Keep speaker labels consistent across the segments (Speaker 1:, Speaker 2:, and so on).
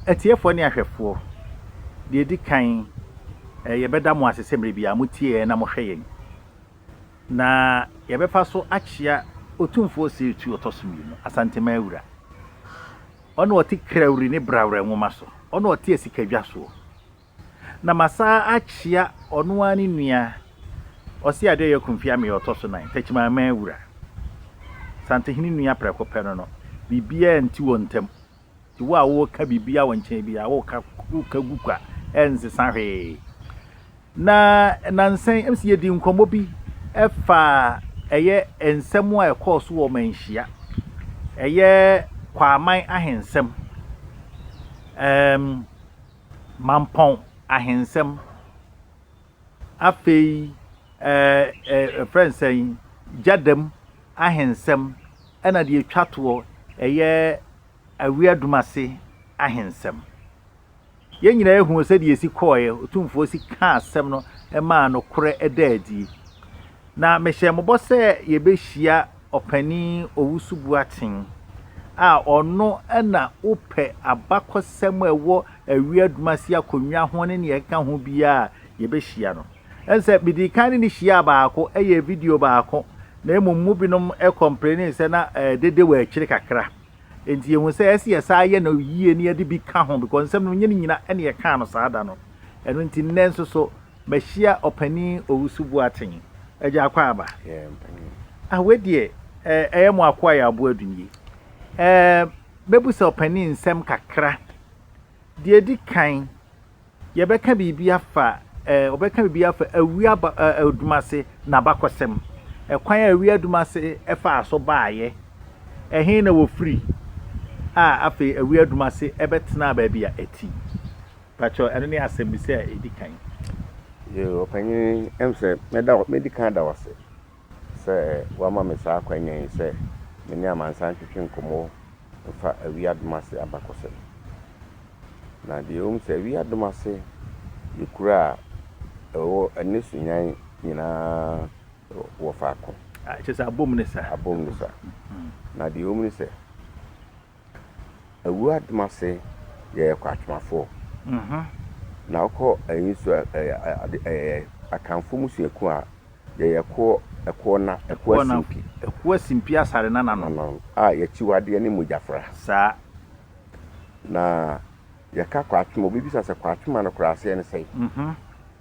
Speaker 1: Atiefoɔ ne ahwɛfoɔ, deɛ ɛdi kan, yɛbɛda mo ase sɛ mmerɛ biara motie yɛn na mohwɛ yɛn. Na yɛbɛfa so akyea Otumfoɔ Ɔsetu Ɔtɔ so Mmienu, Asanteman Wura. Ɔna ɔte Krawri ne Brawrɛ nwoma so, ɔna ɔte asikadwa soɔ. Na masan akyea ɔno ara ne nua Ɔseadeɛ Ɔyɔ Kumfi Ameya Ɔtɔ so Nan, Takyimanman Wura. Santehene nua prɛko pɛ no no, biribiara nti wɔn ntam. Nti wo a woreka biribiara wɔ nkyɛn biara, woka woka gu kwa, ɛnsesa hwee. Na nansa yi, ɛm sɛ yɛdi nkɔmmɔ bi ɛfa ɛyɛ nsɛm a ɛkɔɔ so wɔ manhyia, ɛyɛ Kwaaman ahensɛm, ɛɛm, Mampɔn ahensɛm, Afei yɛfrɛ no sɛn? Gyadam ahensɛm ɛna deɛ ɛtwa toɔ ɛyɛ Awiadomase ahensɛm. Yɛn nyinaa yɛhunu sɛdeɛ ɛsi kɔɔɛ, Otumfoɔ si kaa asɛm no maa nokorɛ daa adie. Na mehyɛɛ mobɔ sɛ yɛbɛhyia Ɔpanin Owusu Boateng a ɔno na wopɛ abakɔsɛm a ɛwɔ Awi Adwumasi akonnwa ho ne nea ɛkeka ho biara a, yɛbɛhyia no. Ɛne sɛ medii kan ne no hyiaa baako, ɛyɛɛ video baako, na mmom mu binom kɔmplenee sɛ na eh, dede wɔ akyire kakra. Enti yɛhu sɛ ɛsɛ yɛsaa yɛ no yie na yɛde bi ka ho because nsɛm no nyɛ ne nyina ɛne yɛkaa no saa da no. Ɛno nti nnɛ nso so Mahyia Ɔpanin Owusu Boateng, Agya Akwaaba. Yeah, mpanin. Ah, wei deɛ, eh, ɛyɛ mo akoa yɛ aboa du nie. Eh, mɛbusa ɔpanin nsɛm kakra. Deɛ ɛdi kan, yɛbɛka biribi afa, eh, ɔbɛka biribi afa Awi aba, eh, Adumase n'abakɔsɛm. Ɛkwan a Awi Adumase ɛfaa so baeɛ. Ɛhe na wɔfiri a afei Awi Adumase ɛbɛtenaa baabi a ɛte yi. Pakyɛw, ɛno ne asɛmmisa a edi kan. Yoo,
Speaker 2: ɔpanyin, ɛm sɛ mɛda wo, medi kan ada wo ase sɛ woama me saa akwanya yi sɛ me ne amansan ntwetwe nkɔmmɔ mfa awi adom ase abakɔsɛm. Na deɛ ɛwom sɛ awi adom ase yɛ kuro a ɛwɔ ɛne Sunyani nyinaa wɔ faako. Kyerɛ sɛ abom ne
Speaker 1: sa. Abom ne sa.
Speaker 2: Na deɛ ɛwom ne sɛ Awura Domase yɛɛ Kwatmafoɔ na ɔkɔ ɛyi nso ɛyɛ Akanfoɔ musuakuo a yɛyɛ ɛkoɔ ɛkoɔ na ɛkoɔ asimpi ɛkoɔ asimpi asare na
Speaker 1: nano a yɛkyiwadeɛ
Speaker 2: ne mogyafra saa na yɛka Kwatma obi bisa sɛ Kwatma no koraa aseɛ ne sɛn.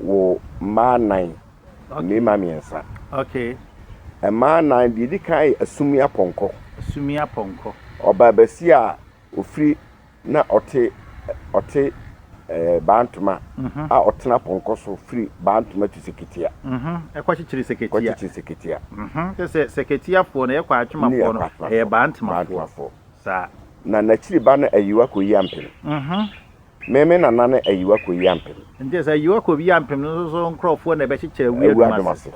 Speaker 2: Wo mmaa nnan, mmarima mmiɛnsa. Okay.
Speaker 1: Mmaa
Speaker 2: nnan, deɛ ɛdi kan yɛ Asumi Apɔnkɔ. Asumi Apɔnkɔ. Ɔbaabasia a ɔfiri na ɔte ɔte ɛɛ eh, Bantoma mhm. a ɔtena pɔnkɔ so firi Bantoma to Seketia. Mhm. Ɛkɔkyekyere
Speaker 1: Seketia. Kɔkyekyere Seketia. Mhm. Kyɛ sɛ Seketiafoɔ no ɛyɛ kɔ atwemafoɔ no ɛyɛ Bantomafoɔ. Saa. Na n'akyiri ba
Speaker 2: no ayiwa kɔ yi ampem. Me, me nana ne Ayiwa Koyi Ampem. Nti sɛ Ayiwa Koyi
Speaker 1: Ampem no nso so nkorɔfoɔ na ɛbɛkyekyɛ Awi Adwom ase.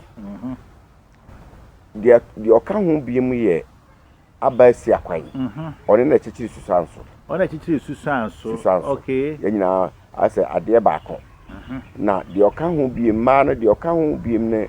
Speaker 2: Deɛ deɛ ɔka ho biom yɛ Aba Asia Kwan. Ɔne na kyekyere Susuanso. Ɔne na kyekyere Susuanso. Susuanso. Okay. Yɛn nyinaa
Speaker 1: ayɛ sɛ
Speaker 2: adeɛ baako. Na deɛ ɔka ho biom, mmaa no deɛ ɔka ho biom ne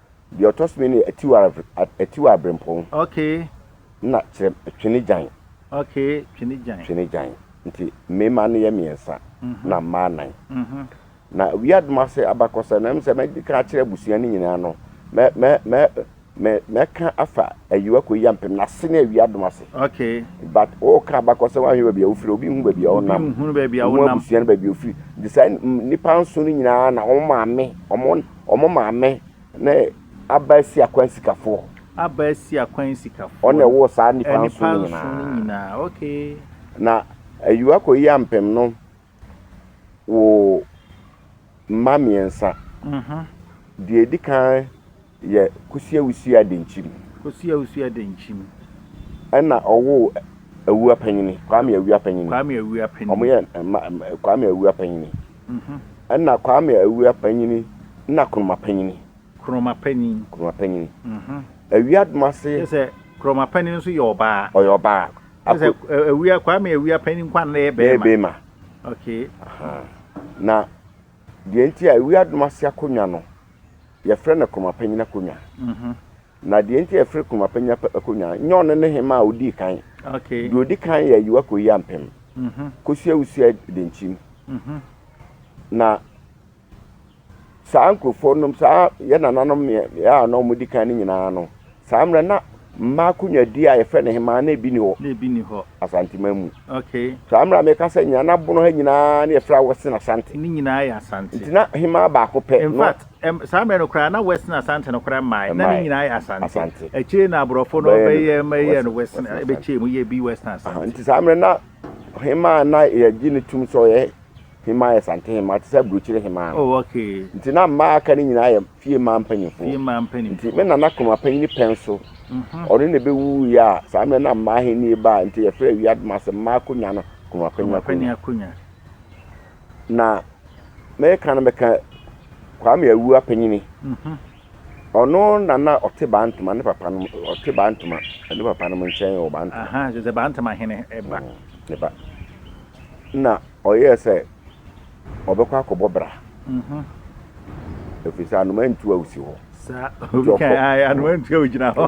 Speaker 1: Deɛ ɔtɔ so
Speaker 2: mmienu yɛ atiware atiware abrempɔn. Okay.
Speaker 1: Na kyerɛ
Speaker 2: twene gyan. Okay, twene
Speaker 1: gyan. Twene gyan. Nti mmarima
Speaker 2: no yɛ mmiɛnsa mhm. na mmaa nan. Mhm. Na wia adum ase abakɔsɛ na ɛmu sɛ mɛdi kan akyerɛ abusua no nyinaa no mɛ mɛ mɛ mɛ mɛka afa ayiwa kɔ yia mpem na ase ne awia adum ase. Okay. But
Speaker 1: o ka
Speaker 2: abakɔsɛ wɔn ahwɛ baabi a wofiri obi hu baabi a wɔnam. Obi hu baabi a wɔnam. Wɔn abusua no baabi a wofiri. Nti saa nipa nson no nyinaa na wɔn maame wɔn Wɔn maame ne Abaasia Kwan Sikafoɔ. Abaasia
Speaker 1: Kwan Sikafoɔ. Ɔna ɛwɔ saa nipa
Speaker 2: nson no nyinaa. Nipa nson no nyinaa, okay.
Speaker 1: Na
Speaker 2: Ayiwa Koyi Ampem no wo mma mmiɛnsa. Deɛ ɛdi kan yɛ Kosi Awusu Adenkyim. Kosi Awusu Adenkyim. Ɛna ɔwo Awuapanyini, Kwame Awuapanyini. Kwame Awuapanyini. Wɔn yɛ mma Kwame Awuapanyini. Mhm. Ɛna Kwame Awia Panyini na Kroma Panyini. Kroma Panyin. Kroma Panyini. Mhm. Awia Adomase. Kyerɛ sɛ Kroma
Speaker 1: Panyin nso yɛ ɔbaa. Ɔyɛ ɔbaa. Kyerɛ
Speaker 2: sɛ Ako- ɛ-
Speaker 1: Awia, Kwame Awia Panyin Nkwan na ɛyɛ Bɛyɛ bɛrima. bɛrima. Okay.
Speaker 2: Aha. Na deɛ nti a Awia Adomase akonnwa no, yɛfrɛ no Kroma Panyini akonnwa. Mhm. Na deɛ nti a ɛfiri komapa nya pɛ akonnwa, nyɛ ɔno ne hemmaa a ɔdii kan. Okay. Deɛ ɔdi kan
Speaker 1: yɛ ayiwa
Speaker 2: kɔyi ampem. Mhm. Kosua Usia Denkyim. Mhm. Na saa nkurɔfoɔ nom, saa yɛ nananom mmeɛ a na wɔdi kan no nyinaa no, saa mmerɛ na mmaa akonnwadie a yɛfrɛ no hemmaa na ebi ni hɔ. Na ebi ni hɔ. Asanteman mu. Okay. Saa mmerɛ a
Speaker 1: meka sɛ
Speaker 2: nyina na bono ha nyinaa na yɛfrɛ awɔse na asante. Ne nyinaa yɛ asante.
Speaker 1: Nti na hemmaa baako
Speaker 2: pɛ. In fact, Ɛm, saa mmerɛ
Speaker 1: no koraa na West ne Asante no koraa mmaeɛ, na ne Ɛmmaeɛ. nyinaa yɛ Asante. Asante. Akyire yi na aborɔfo no Bɛyɛɛ no bɛyɛɛ ma ɛyɛɛ West- no West, West ne Asante. ɛbɛkyɛɛ mu yɛ bi West ne Aha, Asante. nti saa mmerɛ na
Speaker 2: hemaa a na yɛgye no tom sɛ ɔyɛ hemaa yɛ Asante hemaa te sɛ aburokyire hemaa no. Oh, ok. Nti
Speaker 1: na mmaa a aka no
Speaker 2: nyinaa yɛ fie mmaa mpanimfoɔ. Fie mmaa mpanimfoɔ. Nti me nana Kroma panyini pɛn so, Mhm. ɔno na ɛbɛwuiɛ a saa mmerɛ na mmaa ahennie baa nti yɛfrɛ Awiadoma ase mmaa akonwa no Kroma panyini Kroma Panyin akonwa. Akonya. Na meka no meka Kwame Awu Apanyini. Ɔno na na ɔte Bantama ne papa nom ɔte Bantama ne papa nom nkyɛn wɔ Bantama. Ahaa kyerɛ sɛ Bantama hene
Speaker 1: ba. Ne ba.
Speaker 2: Na ɔyɛɛ sɛ ɔbɛkɔ akɔbɔ bra. Ɛfiri sɛ anoma ntu a ɔsi hɔ. Saa obi
Speaker 1: kan ae ano antua ogyina hɔ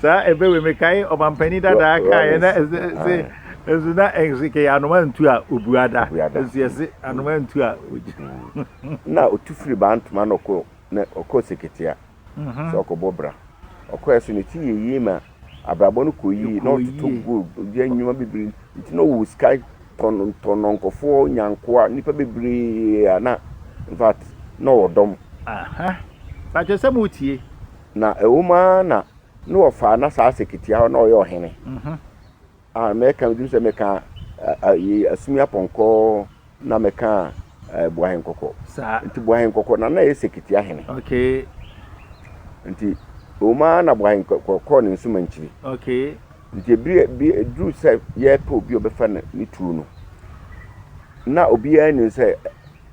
Speaker 1: saa ebe we mekae ɔmampanin dadaa kaeɛ na ɛsɛ ɛsɛ ɛsɛ na ɛsɛ kɛyɛ anoma antu a obuada ɛsɛ yɛsɛ anoma antu a ogyina na
Speaker 2: otu firi baa ntoma na ɔkɔ na ɔkɔ seketea sɛ ɔkɔbɔ bra ɔkɔɛ so ne ti yɛ yie ma abrabɔ no kɔ yie na ɔtoto gold ɔyɛ nneɛma bebree nti na ɔwɔ sika tɔnɔntɔnɔ nkɔfoɔ nyankoa nnipa bebree a na in fact na ɔwɔ dɔm. Aha
Speaker 1: pakyɛ sɛ mo tie. Na ɛwɔ mu
Speaker 2: ara na na ɔfaa na saa sɛkitia hɔ na ɔyɛ ɔhene. A Mɛka meduru sɛ mɛka a ye asumi apɔnkɔ na mɛka a Buahen kɔkɔ. Saa. Nti Buahen kɔkɔ na na ye Sekiti ahene. Okay. Nti ewom ara na Buahen kɔkɔ kɔɔ ne nsuma nkyiri. Okay.
Speaker 1: Nti ebiri ebi
Speaker 2: eduru sɛ yɛpɛ obi a ɔbɛfa ne ne tuo no, na obiara nim sɛ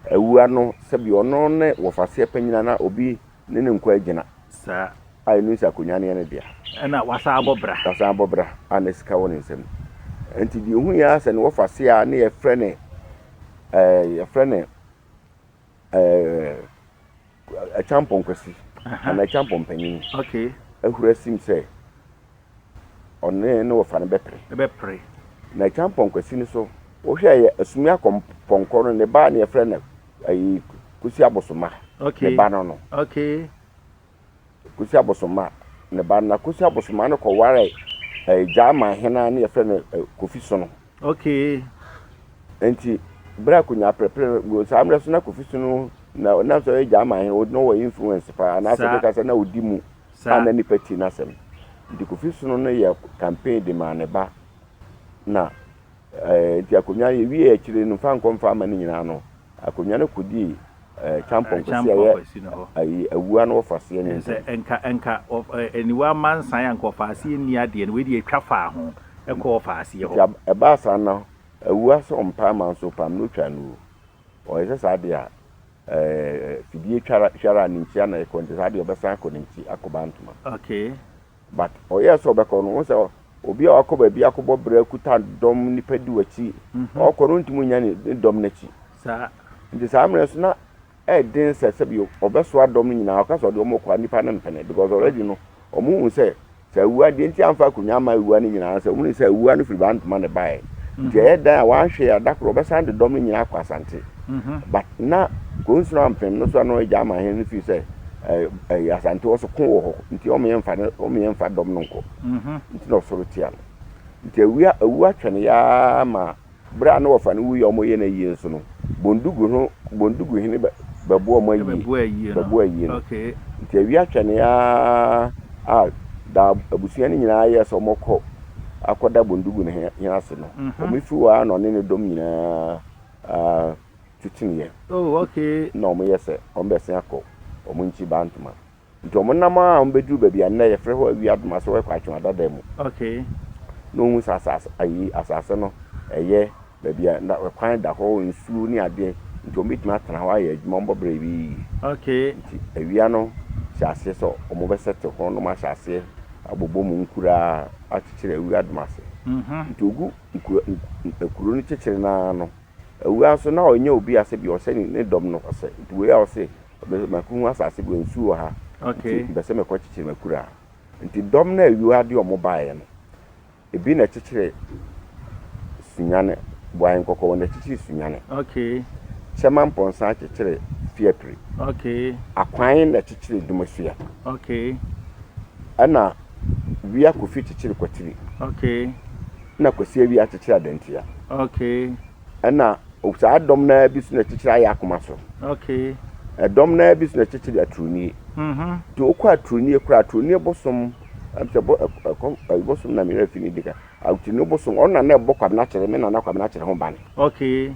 Speaker 2: Awuraa no sɛbi ɔno ne wɔfaseɛ panyina na obi Ne ne nkoa gyina. Saa. A
Speaker 1: ɛno nti akonnwa
Speaker 2: no yɛ ne dea. Ɛna wasan abɔ
Speaker 1: bra. Wasan abɔ bra a na sika wɔ ne nsam. Nti deɛ ɔhuiɛ ara sɛ ne wɔfa se a ne yɛfrɛ ne ɛɛ yɛfrɛ ne ɛɛ Akyampɔn Kwasi anaa Akyampɔn Panyin. Okay. Ahura sim sɛ.
Speaker 2: ɔne ne wɔfa no bɛpere. Bɛpere. Na Kyampɔnkwasi no nso, wohwɛ a ɛyɛ Asumi Akɔmpɔnkɔ no ne ba a na yɛfrɛ no ayi Kwasi Abosomma. Okay. Ne ba no no.
Speaker 1: Okay.
Speaker 2: Kwasi Abosomma ne ba no na Kwasi Abosomma no kɔwaree ɛɛ Gyaama hene a na yɛfrɛ no Kofi Sono. Okay.
Speaker 1: Enti
Speaker 2: bere a Konya perepere wɔ saa mmerɛ so na Kofi so no na ɔnam sɛ ɔyɛ German hene na ɔwɔ influence paa anaasɛ bɛka sɛ na ɔdi mu a na nipa ti n'asɛm nti Kofi so no yɛ campaign de maa ne ba na eh, nti akonnwa yɛwie akyire no mfa nkɔ mfa ama no nyinaa no Akonnwa no kɔdii kyampɔn kwasi a ɛyɛ awua no wɔfa aseɛ nni ntam. Ɛnsɛ nka nka
Speaker 1: aniwa amma nsan a nka wɔfa aseɛ nni adeɛ no, wei deɛ ɛtwa faa ho kɔ wɔfa aseɛ hɔ. Nti ɛbaa saa no
Speaker 2: awua sɛ ɔmpaa ma nso ɔpaam na ɔtwaa no wuo. Ɔyɛ sɛ saa deɛ a fidie twara hwara a ne nkyia na ɛkɔ nti saa deɛ ɔbɛsan akɔ ne nkyi akɔba ntoma. Okay.
Speaker 1: But ɔyɛɛ
Speaker 2: sɛ ɔbɛkɔ no, wohu sɛ obi a wakɔ baabi akɔbɔ bra kuta dɔm nnipa di w'akyi, ɔkɔ no wontumi nnya ne ne dɔm no akyi. Saa.
Speaker 1: Nti saa mmerɛ
Speaker 2: nso na ɛyɛ den sɛ sɛbi ɔbɛsoa dɔm no nyinaa ɔka sɛ ɔde wɔn rekɔ a nnipa no mpene because already no wɔn hu sɛ sɛ awua deɛ nti amfa akonnwa ama awua no nyinaa sɛ wɔn hu sɛ awua no firi Bantama na ɛbaeɛ nti ɛyɛ dan a wanhwɛ a da koro ɔbɛsan de dɔm no nyinaa akɔ Asante. Mhm. But na Kuro Nson Ampem no so a na ɔyɛ Gyama hene no fii sɛ ɛɛ ɛɛ Asante hɔ so ko wɔ hɔ nti wɔn yɛ nfa no wɔn yɛ nfa dɔm no nkɔ. Mhm. Nti na ɔsɔre tia no. Nti awia awu atwɛ no yaa ma bere a na wɔfa no wuiɛ a wɔyɛ no ayie nso no Bondugu ho Bondugu hene bɛ bɛboa wɔn ayie Ɛbɛboa ayie no. bɛboa ayie no. Okay. Nti awia atwɛ
Speaker 1: no
Speaker 2: yaa a da abusua no nyinaa yɛɛ sɛ wɔkɔ akɔda Bondugu no he hene ase no Mhm. wɔn firi hɔ ara na ɔne ne dɔm nyinaa titimiɛ. Oh okay.
Speaker 1: Nna ɔmo yɛ sɛ
Speaker 2: ɔmo bɛ sen akɔ ɔmo nkyi Bantama. Nti ɔmo nam aa ɔmo bɛ duru bɛbi a nnɛ yɛ frɛ hɔ Awiadoma so ɛkɔ Atweɔn Adada mu. Okay.
Speaker 1: Na ohun sɛ
Speaker 2: asaase ayi asaase no ɛyɛ bɛbi a na ɛkwan da hɔ nsuo ne adeɛ nti ɔmo bɛtumi atena hɔ ayɛ adwuma ɔmo bɔ brɛ bi yiye. Okay. Nti
Speaker 1: awia no
Speaker 2: hyɛ aseɛ sɛ ɔmo bɛ sɛte hɔ na ɔmo ahyɛ aseɛ abobɔ mu nkuraa akyekyere Awiadoma ase. Nti ogu. Nkuro nkuro no kyekyere no ara no, awuraa nso na ɔnyɛ obi a sɛbi ɔhyɛ ne ne dɔm no ɔsɛ. Nti wei a ɔse ɔbɛ makohu asase bi a nsuo wɔ ha nti Okay. mpɛsɛ mɛkɔ
Speaker 1: kyekyere
Speaker 2: m'akuraa. Nti dɔm no a awuraa de wɔn baeɛ no, ebi na ɛkyekyere Sunyane, Boayɛ Nkɔkɔ wɔn na ɛkyekyere Sunyane. Okay.
Speaker 1: Kyɛma Mpɔnsa
Speaker 2: kyekyere Fiapire. Okay.
Speaker 1: Akwan na ɛkyekyere
Speaker 2: Dumasua. Okay.
Speaker 1: Ɛna.
Speaker 2: Wia Kofi kyekyere Kwatiri. Okay.
Speaker 1: Ɛna Kwasi
Speaker 2: Awia akyekyere Adantia. Okay.
Speaker 1: Ɛna
Speaker 2: saa dɔm no ara bi so na ɛkyekyere Ayɛ Akoma so. Okay.
Speaker 1: Ɛdɔm no ara
Speaker 2: bi so na ɛkyekyere Aturonie. Mm-hmm. Nti wokɔ Aturonie koraa Aturonie bosom sɛ bɔ ɛkɔ bosom na meyɛ fi ne dika. Aturonie bosom ɔno na na ɛbɔ Kwabena kyerɛ me na na Kwabena kyerɛ ho ban. Okay.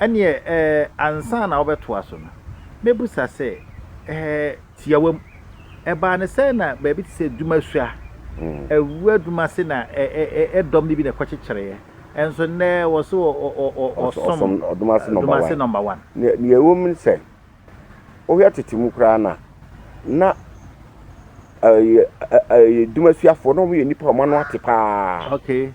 Speaker 1: Ɛnneɛ eh, ansa na wobɛtoa so no, mɛbisa sɛ, eh, tiawam, ɛbaa no sɛn na baabi te sɛ Dumasua, awua Dumase na eh, eh, eh, eh, dɔm no bi na ɛkɔkyekyereeɛ, nso nnɛ wɔse wɔ, ɔ, ɔ, ɔ, ɔ, ɔsom Ɔsom Dumase Nɔmba Dumase
Speaker 2: Wan. Nɔmba Wan. Nea,
Speaker 1: nea ɛwɔ mu ne sɛ,
Speaker 2: wohwɛ tete mu koraa no a, na ɛyɛ, ɛ, ɛyɛ Dumasuafoɔ, na wɔyɛ nnipa a wɔn ano ate paa. Okay.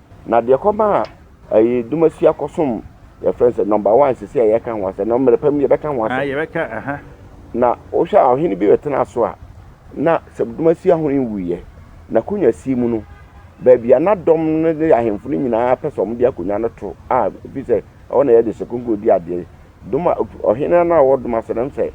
Speaker 1: Na
Speaker 2: deɛ kɔmaa ɛyi Dumasua kɔsom yɛfrɛ no sɛ number one sisi a yɛka ho asɛm na mmerɛ pa mu yɛbɛka ho asɛm. yɛbɛka aha.
Speaker 1: Na
Speaker 2: wohwɛ a ɔhene bi bɛtena so a na sɛ Dumasua ho nwuiɛ na konwa si mu no baabi a na dɔm no ne ahemfo no nyinaa pɛ sɛ wɔn de akonwa no to a efi sɛ ɛhɔ na yɛde sɛ konko di adeɛ Doma ɔhene a na ɔwɔ doma sɛ no nsɛ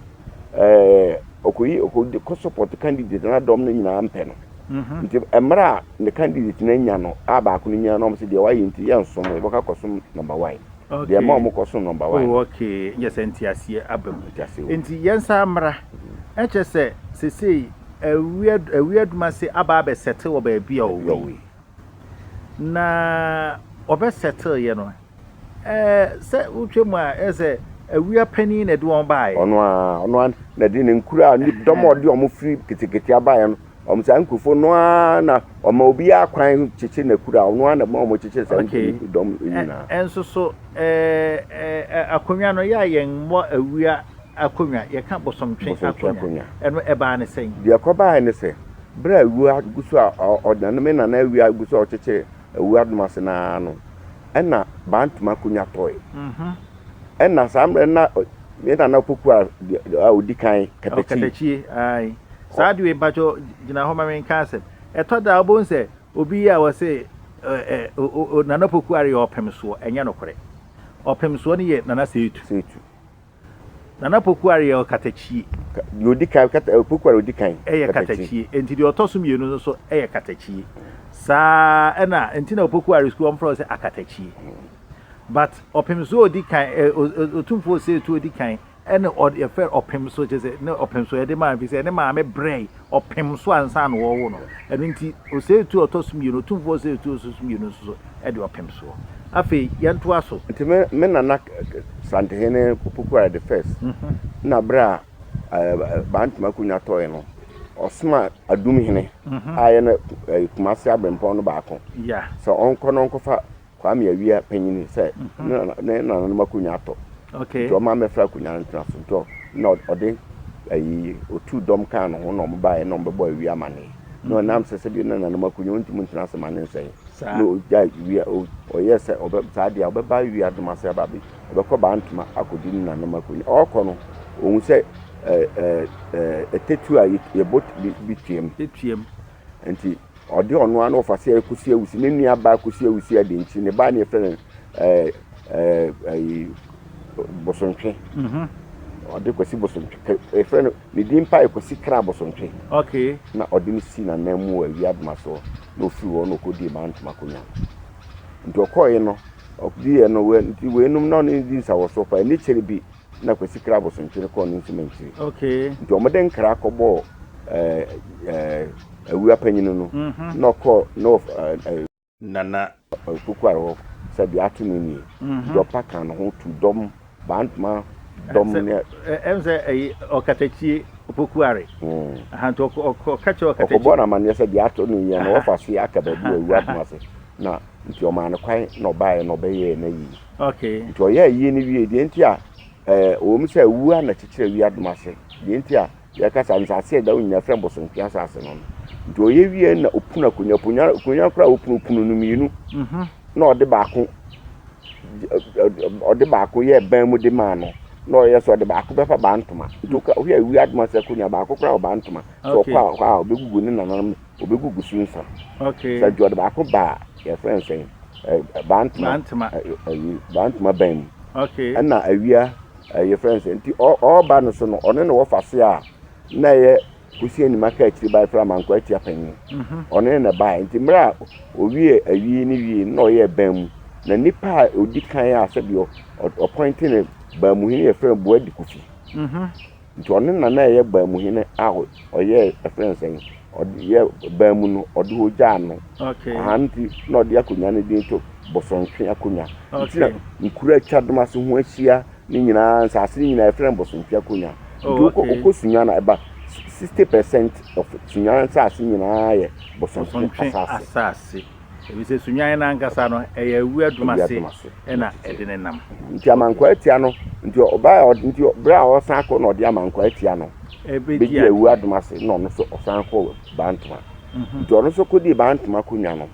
Speaker 2: ɔkɔyi ɔkɔ support candidate na dɔm no nyinaa mpɛ no mhm. nti mmerɛ a ne candidate no anya no a baako no nyina no ɔm sɛ deɛ wayɛ nti yɛ nsom wɔbɛka kɔsom number one deɛ ma ɔmo kɔsom
Speaker 1: number
Speaker 2: one oh, okay nyɛ sɛ nti
Speaker 1: aseɛ aba mu nti yɛnsa mmra ɛkyɛ sɛ sesei awi aduma se aba abɛsɛte wɔ baabi a ɔwɔ na ɔbɛsɛte yɛ no Sɛ wotwa mu a, ɛyɛ sɛ awia panin na ɛde wɔn baeɛ. Ɔno ara, ɔno ara na
Speaker 2: ɛde ne nkuraa, ne dɔm a ɔde wɔn firi ketekete baeɛ no, wɔn saa nkurɔfoɔ no ara na ɔma obiara kwan kyekye n'akuraa, ɔno ara na ɛma wɔkyekyere saa nkurɔfoɔ dɔm nyinaa. Okay, nso so
Speaker 1: akonnwa no, yɛ a yɛn mmɔ awia akonnwa, yɛka bosomtwe akonnwa, ɛno ɛbaa ne sɛn? Deɛ ɛkɔbaeɛ ne sɛ,
Speaker 2: berɛ a awia gu so a, ɔnaname nana awia gu so a ɔkyekyere Awuradom ase no ara no, nna Bantam akonnwa tɔe. Nna saa mmerɛ no na yɛn Nana Opokuaa deɛ a ɔdi kan, Kadakyie. Kadakyie,
Speaker 1: aye. Saa ade wei, mpakyɛ gyina hɔ ma me nka asɛm. Ɛtɔ da a wobɛhu sɛ obi yi a wɔse Nana Opokuaa reyɛ ɔpemsoɔ, ɛnyɛ nokorɛ. Ɔpemsoɔ no yɛ Nana Seetu. Seetu. Nana Pokuare yɛ ɔkatakyie. Deɛ ɔdi kan,
Speaker 2: Pokuare ɔdi kan. Yɛ katakyie. Nti
Speaker 1: deɛ ɔtɔ so mmienu no nso yɛ katakyie. Saa ɛna nti na Pokuare sukuu wɔn frɛ wɔn sɛ akatakyie. But ɔpem so ɔdi kan, ɔtumfoɔ Osetu ɔdi kan ɛna yɛfrɛ ɔpem so kyɛ sɛ ne ɔpem so yɛde maa fi sɛ ne maame brɛɛ ɔpem so ansa na wɔrewo no. Ɛno nti, ɔsɛetuo a ɔtɔ so mmienu, Otumfoɔ ɔsɛetuo a ɔtɔ so mmienu nso de ɔpem soɔ. Afei, yɛntoa so. Nti me, me nana
Speaker 2: Santehene Pokuare the First, na berɛ a Bantam akonwa tɔɔe no, ɔsoma Adum Hene a ɛyɛ no Kumase Abrempɔn no baako sɛ ɔnkɔ
Speaker 1: na ɔnkɔfa
Speaker 2: Kwame Awia panyin sɛ ne nananom akonnwa atɔ nti ɔma mmɛfra
Speaker 1: akonnwa no
Speaker 2: ntena so nti na ɔde ayi otu dɔm kaa ne ho na ɔmo baeɛ na ɔmo bɛbɔ Awia amane na ɔnam sɛ sɛbi ne nananom akonnwa ɔntumi ntena ase ma ne nsɛe na ɔgya Awia ɔyɛ sɛ ɔbɛ saa deɛ ɔbɛba Awia adom ase aba bi ɔbɛkɔ baa ntoma akɔdi ne nananom akonnwa ɔkɔ no ɔhu sɛ ɛɛ ɛɛ ɛtɛtu a yɛbɔ bi tuam. Nti ɔde ɔno ara na ɔfa sɛ Kosi Awusi, ne nua baa Kosi Awusi ade nti ne baa ne yɛfrɛ no ɛɛ ɛɛ ɛyi Bosontwe. Mhm. Ɔde Kwasi Bosontwe kɛ yɛfrɛ no ne din pa yɛ Kwasi Kra Bosontwe. Okay. Na
Speaker 1: ɔde no si
Speaker 2: n'anan mu wɔ Awia Adoma so na ofiri hɔ na ɔkɔdii Maa Ntoma akonnwa no. Nti ɔkɔɔe no, ɔdiiɛ no, wei nti weinom na ɔne no di nsawɔsoɔ paa. Ani kyere bi na Kwasi kra Abosonkyere kɔɔ ne nsumankyiri. Okay. Nti wɔn de
Speaker 1: nkra
Speaker 2: kɔbɔɔ ɛɛ ɛɛ awura panyin no mhm. na ɔkɔɔ na ɛɛ. Nana Kukuar hɔ sɛ deɛ ato no nie. Mhm. Dɔpa kan no ho tu dɔm bantoma dɔm ne. Ɛm sɛ ɛyi
Speaker 1: ɔkatakyie opokuare. Hmm. Ahantu ɔka kyerɛ ɔkatakyie. Ɔkɔbɔ na amaneɛ sɛ deɛ ato
Speaker 2: no yie na wɔfa se aka baabi wɔ awura ho ase na nti ɔmaa no kwan na ɔbaeɛ na ɔbɛyɛɛ no yie. Okay. Nti ɔyɛɛ
Speaker 1: ayie no
Speaker 2: wiee, deɛ nti a ɛɛ ɛwɔ mu sɛ awuo ara na kyekyere awi adom ase, deɛ nti a yɛka sɛ nsase a ɛda hɔ nyinaa frɛ no bosonhwea asase no no. Nti ɔyɛ wieɛ na ɔpunu akonnwa, akonnwa, akonnwa koraa a ɔpunu, ɔpunu no mmienu, na ɔde baako, ɔde baako yɛɛ ban mu de maa no, na ɔyɛ sɛ ɔde baako bɛfa baa ntoma. Nti woka- wohwɛ awi adom ase akonnwa, baako koraa wɔ baa ntoma, sɛ Okay. ɔkɔ a ɔkɔ a ɔbɛgugu ne nananom obegugu so nsa. Okay. Sɛ ɔde
Speaker 1: baako ba a,
Speaker 2: yɛfrɛ no sɛn? Ɛ bantama. Bantama. Ayi bantama bɛn mu. Okay.
Speaker 1: Ɛna awia
Speaker 2: ɛ yɛfrɛ no sɛn? Nti ɔ ɔba no so no, ɔno na wɔfa se a na ɛyɛ kusi anim aka akyiri ba yɛfrɛ amankwa atia panyin. Mhm. Ɔno na ɛbaeɛ. Nti mmerɛ a owie awie no wie no na ɔyɛɛ ban mu. Na nipa a ɔdi kan a sɛdeɛ ɔ ɔpɔinte no ban mu hene yɛfrɛ no Boadi Kofi. Mhm. Nti ɔno na na ɛyɛ baamu hene a ɔyɛɛ ɛfrɛ no sɛn ɔde yɛ baamu no ɔde hɔ gyaa no aha nti
Speaker 1: na ɔde
Speaker 2: akonnwa no din to Bosontwe akonnwa nti na nkuro atwa dom ase ho ahyia ne nyinaa nsaase ne nyinaa ɛfrɛ no Bosontwe akonnwa nti wokɔ wokɔ sunya na ɛba sixty percent of sunya nsaase nyinaa yɛ Bosontwe asaase. Efisɛ
Speaker 1: Sunyan no ankasa no, ɛyɛ awia adum ase na ɛde ne nam. Nti amankwaa atia
Speaker 2: no, nti ɔbae a, nti berɛ a ɔresan akɔ na ɔde amankwaa atia no bɛdii awia adum ase na ɔno nso ɔsan kɔɔ Bantama. Nti ɔno nso kɔdii Bantama kɔnwa no.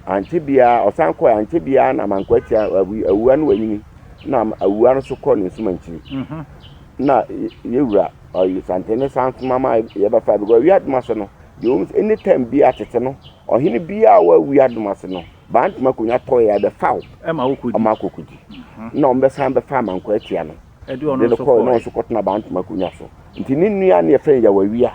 Speaker 2: Ankyɛ biara, ɔsan kɔeɛ, ankyɛ biara na amankwaa atia awia no wanyini na awia no nso kɔɔ ne nsumankyiri. Na yɛwura Oye Santene san soma ma yɛbɛfa because awia adum ase no, deɛ ɛwɔ mu sɛ anytime biara tete no Ɔhene biara a ɔwɔ wiadom ase no, Bantam akonnwa tɔɔ yɛ a, ɛbɛfa wo ma akɔkɔdi. Ɛna wɔbɛsan bɛfaa Manko Atia no de no kɔɔ na
Speaker 1: ɔno nso kɔtena Bantam
Speaker 2: akonnwa so. Nti ne nua ne yɛfrɛ no Yawawia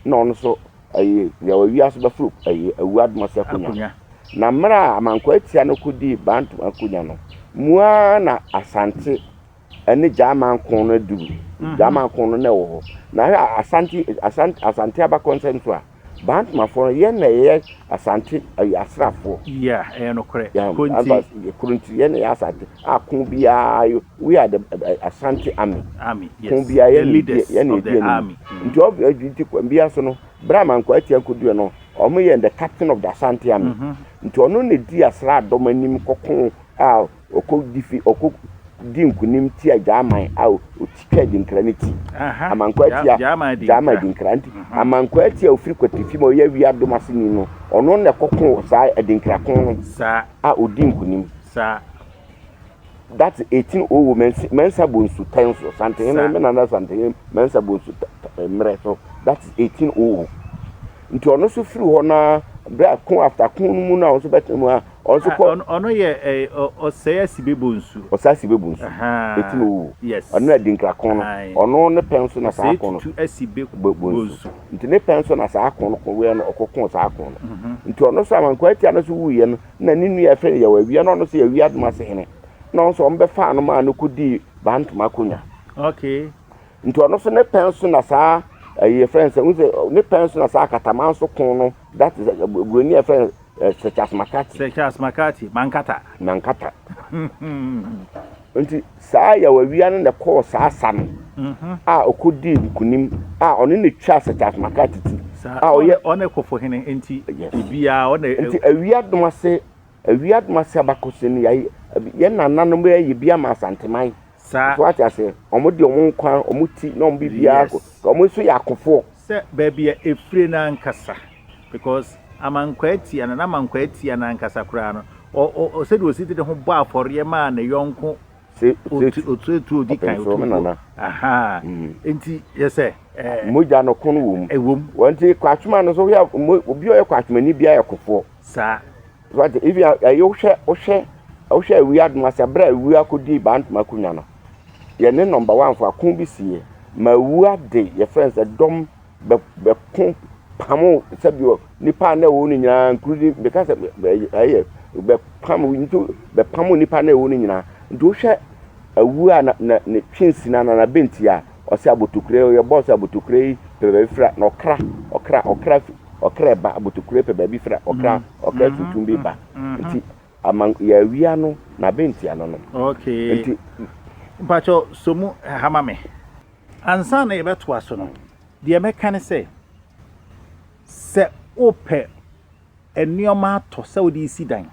Speaker 2: na ɔno nso ɛyɛ Yawawia nso bɛforo ɛyɛ awuadom ase akonnwa. Na mmerɛ a Manko Atia no kɔdii Bantam akonnwa no mu ara na Asante ne Gyaman ko no aduru. Mhm. Gyaman ko no na ɛwɔ hɔ. Na hwɛ a Asante Asante Asante abakɔnsɛm nso a Bantmafoɔ no yɛn na yɛyɛ Asante ɛyɛ asraafoɔ. Yeah, ɛyɛ nokorɛ.
Speaker 1: Yeah, Kuro nti. Anfa kuro nti
Speaker 2: yɛn na yɛ Asante. A ko biara yo- we are the eh, Asante army. Army, yes. Ko biara The
Speaker 1: yɛn na leaders
Speaker 2: yɛn na of the yɛdi anim. army.
Speaker 1: Mhm. Nti ɔbɛ ɛdi nti
Speaker 2: kwan biara so no bere a Manko atia nkoduɛ no ɔmo yɛ the captain of the Asante army. Mhm. Nti ɔno na edi asraadɔm anim kɔko a Ɔkɔ di fi ɔkɔ di nkunim tia Gyaman a ɔtwitwa Adinkra no ti. Amankwaa tia Gyaman Adinkra nti Amankwaa ti a ɔfiri Kwatifi ma ɔyɛ awie adom aseni no ɔno na ɛkɔ ko saa Adinkra ko no a
Speaker 1: ɔdi nkunim.
Speaker 2: That's 1800 Mɛnsa Mɛnsa Bonsu tɛn so Santehene me nana Santehene Mɛnsa Bonsu mmerɛ so that's 1800 nti ɔno nso firi hɔ no ara berɛ a ko after ko no mu no a ɔno nso bɛtena mu a Ɔno nso kɔ. Ɔno ɔno yɛ ɛɛ
Speaker 1: ɔsɛe asibebo nsu. Ɔsɛe asibebo nsu. Ɛti na ɔwuo. Yes. Ɔno na dinkra ko no.
Speaker 2: Ɔno ne pɛn so na saa ko no. Ɔsɛe tutu asibebo
Speaker 1: nsu. Nti ne pɛn so
Speaker 2: na saa ko no ko wɛ no ɔkɔ koo saa ko no. Nti ɔno nso Amankwaa Atia no nso wuiɛ no na ne nua yɛfrɛ no Yaw Awia na ɔno nso yɛ Awia Adomase hene na ɔno nso wɔbɛfaa no maa no kɔdii Baa Ntoma akonwa. Okay.
Speaker 1: Nti ɔno nso
Speaker 2: ne pɛn so na saa ɛyi yɛfrɛ no sɛ wohu sɛ ne pɛn so na saa Akatamanso ko no that is Buroni a yɛfrɛ no Sir Charles McCarthy. Sir Charles McCarthy,
Speaker 1: Mankata. Mankata.
Speaker 2: Nti saa Yawawia no na ɛkɔɔ saa sa no a ɔkɔdii nkunim a ɔno na ɛtwaa Sir Charles McCarthy ti. A ɔyɛ. Ɔne
Speaker 1: kɔfo hene nti biara ɔne. Nti awia dom
Speaker 2: ase awia dom ase abakɔsɛm yi yɛn nananom yɛ bi ama Asanteman. saa. So wate
Speaker 1: aseɛ? Wɔn
Speaker 2: de wɔn nkwa, wɔn ti, na wɔn biribiara akɔ.
Speaker 1: Yes.
Speaker 2: Wɔn nso yɛ
Speaker 1: akofoɔ.
Speaker 2: Sɛ
Speaker 1: baabi
Speaker 2: a
Speaker 1: ɛfire
Speaker 2: no ankasa
Speaker 1: because amankwaa tia no, n'amankwaa tia no ankasa koraa no, ɔ, ɔ, ɔ, sɛdeɛ ɔsi de ne ho bɔ afɔreɛ maa ne yɔnko Se, se, otu- otuotuo odi kan ɔpɛnsoro me otuotuo nana. ahaa Mm. nti yɛ sɛ ɛɛ Mogya no ko
Speaker 2: no wɔ mu. ɛwom Wɔn nti
Speaker 1: kwatwoma no
Speaker 2: nso, woyɛ mo- obi a ɔyɛ kwatwomani biara yɛ kofoɔ. saa
Speaker 1: So ate? Ebi a
Speaker 2: ɛyɛ wohwɛ wohwɛ wohwɛ awi adom ase abere a awi akɔdi bantoma akonnwa no yɛ ne nɔmba wanfo ako bi sie ma awu ade yɛfrɛ no sɛ dɔm bɛko pamo sɛbi nipa na ɛwɔ no nyinaa nkurudi bɛka sɛ ɛyɛ bɛpam nti bɛpamo nipa na ɛwɔ no nyinaa nti wohwɛ awu a na na ne twe nsina na na bɛnti a ɔsɛ abotokure yi yɛbɔ sɛ abotokure yi pɛ baabi fira na ɔkra ɔkra ɔkra fi ɔkra ba abotokure pɛ baabi fira ɔkra mm, ɔkra mm-hmm, tuntum bi ba mm-hmm. nti ama yɛawia no na abɛntia no no okay nti
Speaker 1: mpakyɛ so mu hama me ansa na yɛbɛtoa so no deɛ mɛka ne sɛ sɛ wopɛ Nnoɔma atɔ sɛ wode resi dan.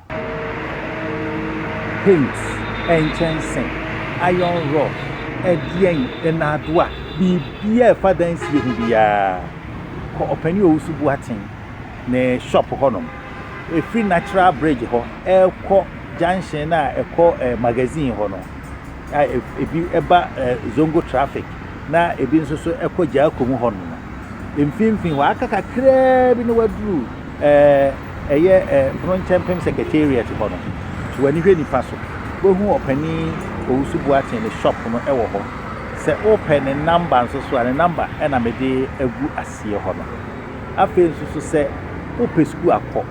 Speaker 1: Paint, nkyɛnse, iron rod, ɛdeɛn, nnaadoa, biribiara a ɛfa dan sie ho biara, kɔ Ɔpanin Owusu Boateng ne shop hɔnom. Ɛfiri Natural Bridge hɔ rekɔ junction no a ɛkɔ Magazine hɔ no, a ebi ba Zongo traffic na ebi nso so kɔ Gyarko mu hɔnom no, mfimfini hɔ, aka kakraa bi na waduru ɛɛ ɛyɛ ɛɛ Pono Nkyɛnpem Secretariat hɔ no. So w'ani hwɛ nipa so. Wohu ɔpanin Owusu Boateng ne shop no wɔ hɔ. Sɛ wopɛ ne namba nso so a, ne namba na mede agu aseɛ hɔ no. Afei nso so sɛ wopɛ sukuu akɔ.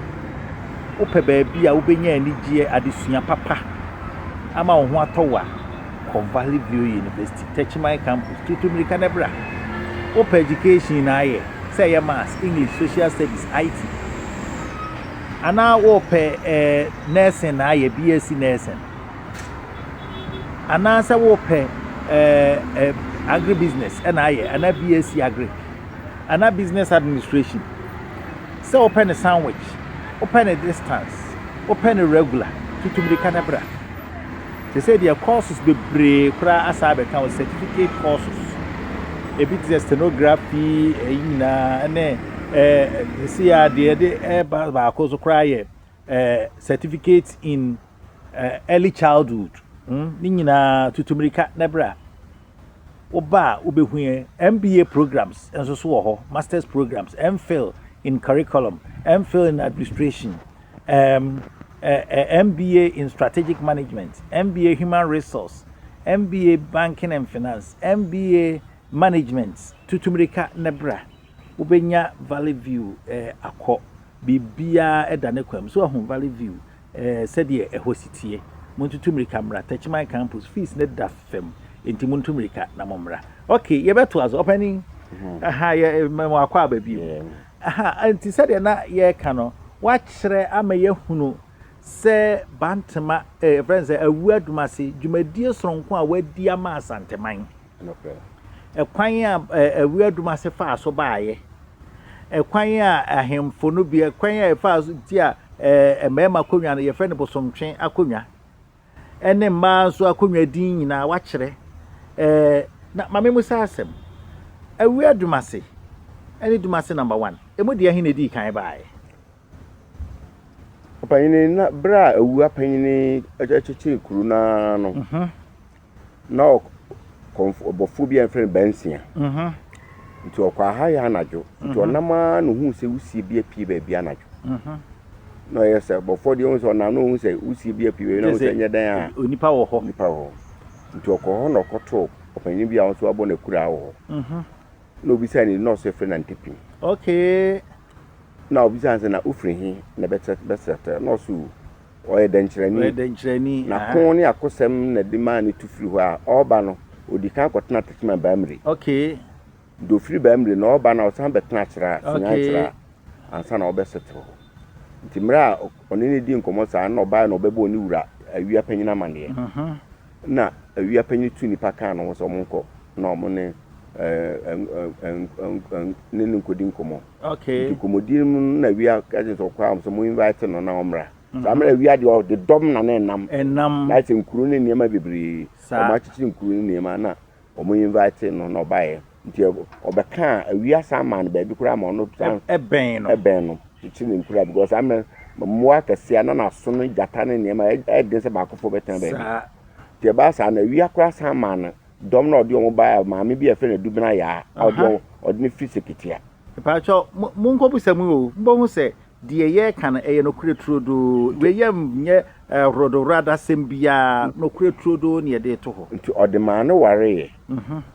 Speaker 1: wopɛ baabi a wobɛnya anigyeɛ, adesua papa ama wo ho atɔ wo a, kɔ Valley View University, Techiman Campus, tutu mmirika na bra. Wopɛ education na ayɛ, sɛ ɛyɛ Maths, English, Social Studies, IT, anaa wopɛ eh, nursing na ayɛ, BSc nursing, anaa sɛ wopɛ eh, eh, agribusiness na ayɛ, anaa BSc agric, anaa business administration, Sɛ wopɛ no sandwich, wopɛ no distance, wopɛ no regular, tutu mmirika na bra. Seesei deɛ courses bebree koraa asan abɛka ho, certificate courses. Ebi te sɛ stenography, ɛyi nyinaa ɛne ɛɛ seesei a deɛ ɛde ɛba baako so koraa yɛ ɛɛ certificate in Early childhood hmm, ne nyinaa tutu mmirika na ɛbrɛ a woba a wobɛhu yɛ mba programs nso so wɔ hɔ masters programs mphil in curriculum mphil in administration um, uh, uh, mba in strategic management mba human resource mba banking and finance mba management tutu mmirika na ɛbrɛ wobɛnya valley view eh, akɔ biribiara da ne kwam so ahu valley view Sɛdeɛ ɛhɔ si teɛ. Montutu mmirika mmra Techiman campus, fees no da fam enti montu mmirika na mommra. Ok, yɛbɛtoa so, ɔpanin. Aha, yɛ, mɛma wakɔ aba bio. Aha, enti sɛdeɛ na yɛreka no, woakyerɛ ama yɛahunu sɛ Bantama, eh, yɛfrɛ no sɛ Awu Adum ase, dwumadie sononko a woadi ama Asanteman. Kwan a Awiadum Ase faa so baeɛ. Kwan a ahemfo no bi, kwan a ɛfaa so ti a mmarima akonnwa no yɛfrɛ no bosomtwe akonnwa. Ɛne mmaa nso akonnwa din nyinaa wɔakyerɛ. Na maame mu saa asɛm. Awiadum Ase ɛne Dum Ase number one. Emu deɛ ɛhe na edii kan baeɛ?
Speaker 2: Ɔpanyin, na bere a awuapanyin kyekyee kuro no ara no, na ɔkɔmfo bɔfo bi a wɔfrɛ no Bɛnsia, nti ɔkɔɔ ha yɛ anadwo, nti ɔnam ara na ohuu sɛ wusie bi apue baabi anadwo. Na ɔyɛ sɛ bɔfo deɛ ohun sɛ ɔnam na ohun sɛ wusie bi apue baabi na ohun sɛ nyɛ dɛn a onipa wɔ hɔ. Nipa wɔ hɔ.
Speaker 1: Nti
Speaker 2: ɔkɔɔ hɔ na ɔkɔtoo ɔpanyin bi a ɔno nso abɔ n'akuraa wɔ hɔ. Na obisaa ne din na ɔsɛ firi na ntepim. Okay.
Speaker 1: Na
Speaker 2: obisaa sɛ na wofiri he na bɛsrɛtɛ na ɔsɛ o. Ɔyɛ dɛnkyerɛni. Ɔyɛ dɛnkyerɛni. N'ako ne akosɛm na de maa no tu firi hɔ a ɔreba no, ɔdi kan kɔtena Techiman Baamire. Okay.
Speaker 1: Nti ɔfiri
Speaker 2: Baamire no ɔreba no a ɔsan bɛtena Kyera, Sunyani Kyera ansa na ɔbɛ settle hɔ. Nti mmerɛ a ɔne no dii nkɔmmɔ saa na ɔbaeɛ na ɔbɛbɔɔ ne wura, Awia Panyin amanneɛ. Nna ewia panyin no tuu nyimpa kaa no ho sɛ wɔnkɔ na wɔn ne ne no nkodi nkɔmbɔ. Ntsi nkɔmbɔdi
Speaker 1: no mu no nna
Speaker 2: ewia ka kyerɛ no sɛ ɔkɔ a sɛ mo invite no na ɔmbra. Saa mber no ewia deɛ ɔde dɔm na ne nam. Na ayɛ sɛ nkuro ne nneɛma bebree. Wɔakyekyer nkuro ne nneɛma na. Wɔn invitee no na ɔbaeɛ. Nti ɔbɛkaa awia san maa no baabi koraa ma ɔno san ɛbɛn no ɛbɛn
Speaker 1: no kyekye
Speaker 2: ne nkura because saa mmerɛ mmoa akɛseɛ na n'aso no gyata ne nneɛma ɛyɛ den sɛ baakofoɔ bɛtena baabi nti ɛbaa saa na awia koraa san maa no dɔm na ɔde wɔn baeɛ maame bi a yɛfrɛ no Adubena Yaa a ɔde wɔn ɔde no firi Seketia Mpatsɔ,
Speaker 1: mo-monkobusa mu o, mobohu sɛ deɛ yɛreka no, ɛyɛ nokorɛ turodoo. Nti. Wei yɛ nnyɛ horodohoradasɛm biara, nokorɛ turodoo na yɛde reto hɔ. Nti ɔde maa no wareeɛ.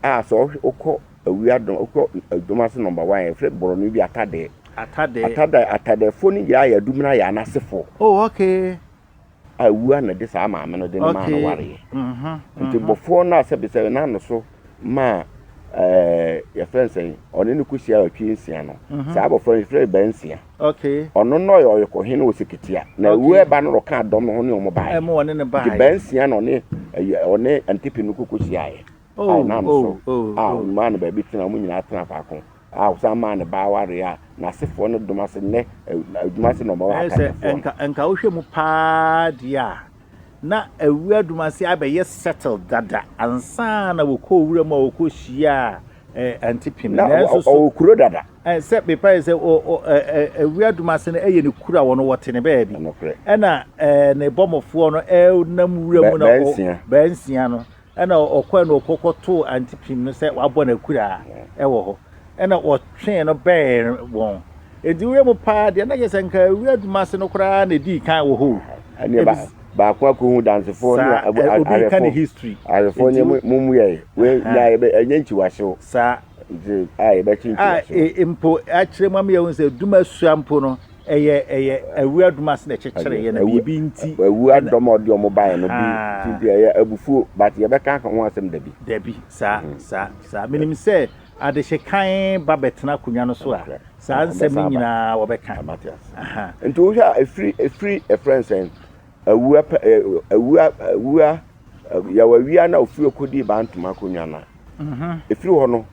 Speaker 2: A sɛ ɔhwɛ, wokɔ awia dɔm, wokɔ dɔm ase number one, yɛfrɛ borɔno bi atadɛɛ. Atadɛɛ. Atadɛɛ, atadɛɛfoɔ no nyinaa yɛ Adumina Ayah no asefoɔ. Oh okay.
Speaker 1: a wua
Speaker 2: na de saa maame no de no maa no wareɛ. Nti bɔfoɔ no a sɛbe sɛ na no so maa yɛfrɛ no sɛn, ɔne no kɔhyia awɔtwe nsia no, saa bɔfoɔ no yɛfrɛ no baa nsia. Ɔno na
Speaker 1: ɔyɛ ɔyɛkɔhene
Speaker 2: wɔ Seketia. Na wua ɛba no na ɔkaa dɔm no ho ne ɔmo baeɛ. Nti baa
Speaker 1: nsia na
Speaker 2: ɔne Antipe no kɔkɔhyiaeɛ. a Oh, ɔnam so oh, oh, a oh. ɔmaa no baabi tena, wɔn nyinaa tena faako, a ɔsan maa ne ba awareɛ a n'asefoɔ no dom ase nnɛ, ɛ, na adwuma ase na wɔma Ɛyɛ sɛ w'akannifoɔ no. nka nka wohwɛ
Speaker 1: mu paa deɛ a, na awura Dumase abɛyɛ settled dada ansa na wɔkɔɔ wura mu a wɔkɔhyiaa ɛ, Aunty Pim. Na ɔ- Nanso ɔ- so ɔwɔ
Speaker 2: kuro dada. ɛ, sɛ mepae sɛ
Speaker 1: ɔ- ɔ- ɛ, ɛ, awura Dumase no ɛyɛ ne kuro a wɔn wɔte ne baabi. Nokorɛ. Ɛna ɛ, ne bɔmmɔfoɔ no ɛnam wura Bɛ- mu na ɔ- bɛnsia. bɛnsia no Ɛnna ɔkɔe na ɔkɔtoo Antipim no sɛ wabɔ no akuraa wɔ hɔ. Ɛnna wɔtwee no bɛn wɔn. Enti wuram paa deɛ, na kyerɛ sɛ anka awia Dumase no koraa na edii kan wɔ hɔ o. Ɛnneɛ ba,
Speaker 2: baako akɔhu dansefoɔ ne a, awɛfoɔ. Obi reka ne history.
Speaker 1: Awɛfoɔ ne
Speaker 2: mommuae. Wei na yɛbɛ, ɛnyɛ nkyiwasew. Saa. Nti
Speaker 1: a yɛbɛkye
Speaker 2: nkyiwasew. A mpo
Speaker 1: akyerɛ mu ama yɛahu sɛ Dumasua mpo no. Ɛyɛ ɛyɛ awura dom ase na ɛkyekyere yɛ na biribi nti. Awura dom a ɔde wɔn
Speaker 2: baeɛ no bi ti nti ɛyɛ abufuo but yɛbɛka ho asɛm da bi. Dabi saa saa
Speaker 1: saa menim sɛ adehyɛ kann ba bɛtena akonnwa no so a saa nsɛm no nyinaa wɔbɛka. Nti wohwɛ
Speaker 2: a ɛfiri ɛfiri ɛfrɛ nsɛn awura awura awura yɛwɔ awia no a ɔfiri ɔkɔdii bantoma akonnwa no a ɛfiri hɔ no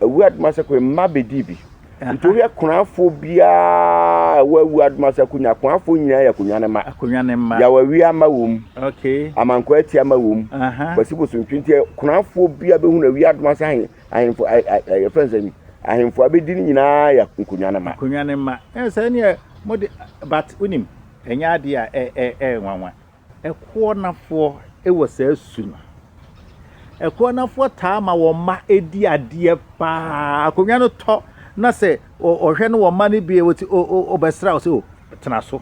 Speaker 2: Awuraa Adumasakwe mma bɛdii bi. Nti wohwɛ Konafoɔ biara ɛwɔ Awuraa Adumasakwe nyinaa, Konafoɔ nyinaa yɛ Akonwa ne mma. Akonwa ne mma. Yaw Awia mma wɔ mu. Okay. Amankwa
Speaker 1: Atia mma wɔ
Speaker 2: mu. Kwasi Bosontwi nti Konafoɔ biara bɛhunu Awia Adumasakwe ahen ahenfo ɛyɛ fɛn sɛ ahenfo abɛdi ne nyinaa yɛ Akonwa ne mma. Akonwa ne mma. Ɛyɛ sɛ ɛneɛ
Speaker 1: mo de but wonim ɛnyɛ adeɛ a ɛyɛ nwanwa. Ɛkoɔ nafoɔ wɔ saa su no. Ɛkoɔ nafoɔ taa ma wɔn mma di adeɛ pa ara. Akonnwa no tɔ na sɛ ɔhwɛ no wɔn mma no bi ɔti o o ɔbɛsra wo sɛ o tena so.